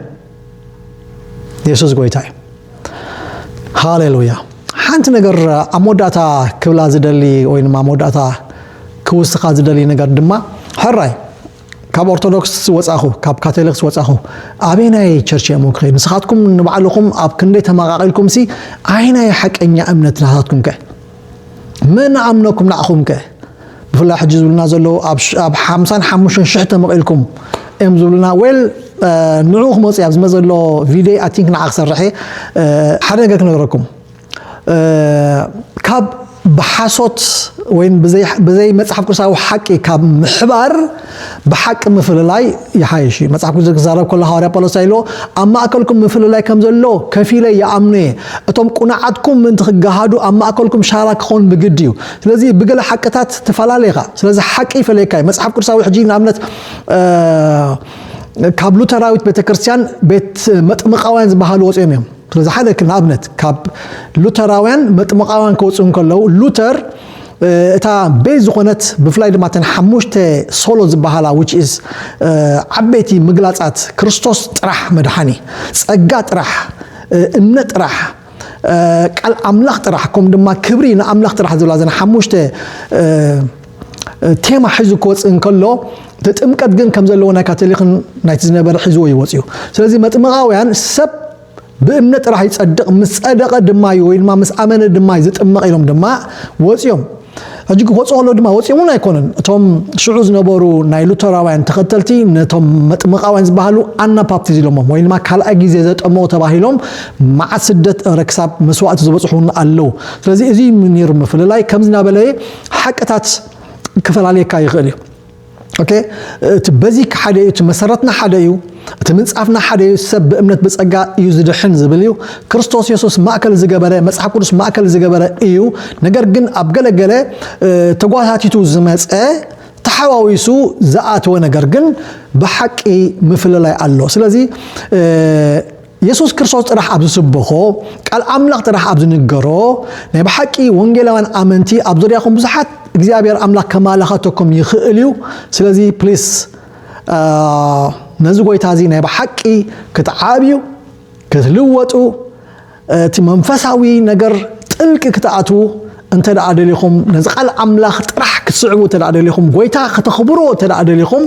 የሱስ ጎይታ እዩ ሃሌሉያ ሓንቲ ነገር ኣብ መወዳእታ ክብላ ዝደሊ ወይ ድማ መወዳእታ ክውስኻ ዝደሊ ነገር ድማ ሕራይ ካብ ኦርቶዶክስ ወፃኹ ካብ ካቶሊክስ ወፃኹ ኣበይ ናይ ቸርች እሞ ክኸይድ ንስኻትኩም ንባዕልኹም ኣብ ክንደይ ተመቃቂልኩም ሲ ኣይ ናይ ሓቀኛ እምነት ናታትኩም ከ መን ኣምነኩም ንዓኹም ከ ብፍላይ ሕጂ ዝብሉና ዘለዉ ኣብ ሓምሳን ሓሙሽተን ሽሕ ተመቒልኩም እዮም ዝብሉና ዌል ንዑ ክመፁ እያ ዝመ ዘሎ ቪድዮ ኣይ ቲንክ ንዓ ክሰርሐ ሓደ ነገር ክነግረኩም ካብ ብሓሶት ወይም ብዘይ መፅሓፍ ቅዱሳዊ ሓቂ ካብ ምሕባር ብሓቂ ምፍልላይ ይሓይሽ እዩ። መጽሓፍ ቅዱስ ክዛረብ ከሎ ሃዋርያ ጳውሎስ እንታይ ኢልዎ? ኣብ ማእከልኩም ምፍልላይ ከም ዘሎ ከፊለ ይኣምኖ እየ። እቶም ቁኑዓትኩም ምእንቲ ክገሃዱ ኣብ ማእከልኩም ሻራ ክኸውን ብግዲ እዩ። ስለዚ ብገለ ሓቅታት ትፈላለ ኢኻ። ስለዚ ሓቂ ይፈለየካ እዩ። መጽሓፍ ቅዱሳዊ ሕጂ ንኣብነት ካብ ሉተራዊት ቤተ ክርስቲያን ቤት መጥምቃውያን ዝበሃሉ ወጽኦም እዮም። ስለዚ ሓደ ንኣብነት ካብ ሉተራውያን መጥምቃውያን ክወጽኡ እንከለዉ ሉተር እታ ቤዝ ዝኾነት ብፍላይ ድማ እተን ሓሙሽተ ሶሎ ዝበሃላ which is ዓበይቲ ምግላጻት ክርስቶስ ጥራሕ መድሓኒ ጸጋ ጥራሕ እምነት ጥራሕ ቃል ኣምላኽ ጥራሕ ከምኡ ድማ ክብሪ ንኣምላኽ ጥራሕ ዝብላ ዘን ሓሙሽተ ቴማ ሒዙ ክወፅእ እንከሎ እቲ ጥምቀት ግን ከም ዘለዎ ናይ ካቶሊክን ናይቲ ዝነበረ ሒዝዎ ይወፅዩ ስለዚ መጥምቃውያን ሰብ ብእምነት ጥራሕ ይጸድቕ ምስ ጸደቐ ድማ እዩ ወይ ድማ ምስ ኣመነ ድማ እዩ ዝጥመቕ ኢሎም ድማ ወጽዮም ሕጂ ክወፁ ከለዉ ድማ ወፂኦም እውን ኣይኮነን እቶም ሽዑ ዝነበሩ ናይ ሉተራውያን ተኸተልቲ ነቶም መጥምቃውያን ዝበሃሉ ኣናፓፕቲዝ ኢሎሞም ወይ ድማ ካልኣይ ግዜ ዘጠመቑ ተባሂሎም መዓት ስደት እረ ክሳብ መስዋእቲ ዝበፅሑ እውን ኣለዉ ስለዚ እዚ ነይሩ ምፍልላይ ከምዚ እናበለ ሓቅታት ክፈላለየካ ይኽእል እዩ ኦኬ እቲ በዚክ ሓደ እዩ እቲ መሰረትና ሓደ እዩ እቲ ምንጻፍና ሓደ እዩ ሰብ ብእምነት ብጸጋ እዩ ዝድሕን ዝብል እዩ ክርስቶስ የሱስ ማእከል ዝገበረ መጽሓፍ ቅዱስ ማእከል ዝገበረ እዩ ነገር ግን ኣብ ገለገለ ተጓታቲቱ ዝመጸ ተሓዋዊሱ ዝኣተወ ነገር ግን ብሓቂ ምፍልላይ ኣሎ ስለዚ የሱስ ክርስቶስ ጥራሕ ኣብ ዝስበኾ፣ ቃል ኣምላኽ ጥራሕ ኣብ ዝንገሮ፣ ናይ ብሓቂ ወንጌላውያን ኣመንቲ ኣብ ዙርያኹም ብዙሓት እግዚኣብሔር ኣምላኽ ከማላኸተኩም ይኽእል እዩ። ስለዚ ፕሊስ ነዚ ጎይታ እዚ ናይ ብሓቂ ክትዓብዩ ክትልወጡ እቲ መንፈሳዊ ነገር ጥልቂ ክትኣትዉ እንተ ደኣ ደሊኹም ነዚ ቃል ኣምላኽ ጥራሕ ክትስዕቡ እንተ ደኣ ደሊኹም ጎይታ ከተኽብርዎ እንተ ደኣ ደሊኹም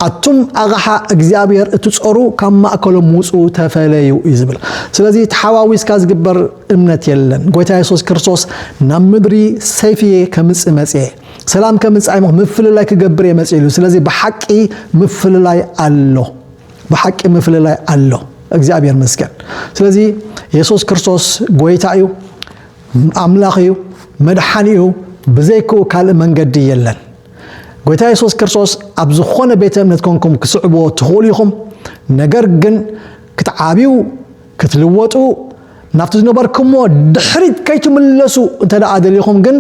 ኣቱም ኣቕሓ እግዚኣብሔር እትጾሩ ካብ ማእከሎም ውጹ ተፈለዩ እዩ ዝብል ስለዚ ተሓዋዊስካ ዝግበር እምነት የለን ጎይታ የሱስ ክርስቶስ ናብ ምድሪ ሰይፊ ከምጽእ መጽየ ሰላም ከምጻእ ምፍልላይ ክገብር እየ መጽእ ኢሉ ስለዚ ብሓቂ ምፍልላይ ኣሎ ብሓቂ ምፍልላይ ኣሎ እግዚኣብሔር መስገን ስለዚ የሱስ ክርስቶስ ጎይታ እዩ ኣምላኽ እዩ መድሓኒኡ ብዘይክኡ ካልእ መንገዲ የለን። ጎይታ የሱስ ክርስቶስ ኣብ ዝኾነ ቤተ እምነት ኮንኩም ክስዕብዎ ትኽእሉ ኢኹም፣ ነገር ግን ክትዓብዩ ክትልወጡ ናብቲ ዝነበርኩምዎ ድሕሪት ከይትምለሱ እንተ ደኣ ደሊኹም ግን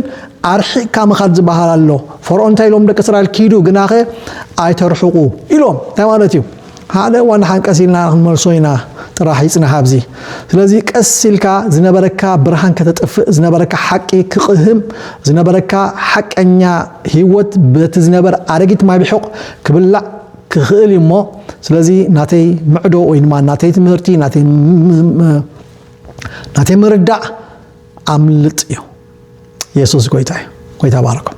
ኣርሒቕካ ምኻድ ዝበሃል ኣሎ። ፈርኦን እንታይ ኢሎም ደቂ እስራኤል ኪዱ ግናኸ ኣይተርሕቑ ኢሎም እንታይ ማለት እዩ? ሓደ እዋን ደሓን ቀስ ኢልና ክንመልሶ ኢና ጥራሕ ይጽናሕ ኣብዚ። ስለዚ ቀስ ኢልካ ዝነበረካ ብርሃን ከተጥፍእ ዝነበረካ ሓቂ ክቕህም ዝነበረካ ሓቀኛ ሂወት በቲ ዝነበር ኣረጊት ማይ ብሑቕ ክብላዕ ክኽእል እዩ እሞ ስለዚ ናተይ ምዕዶ ወይ ድማ ናተይ ትምህርቲ ናተይ ናተይ ምርዳእ ኣምልጥ እዩ። የሱስ ጎይታ እዩ። ጎይታ ባረኩም።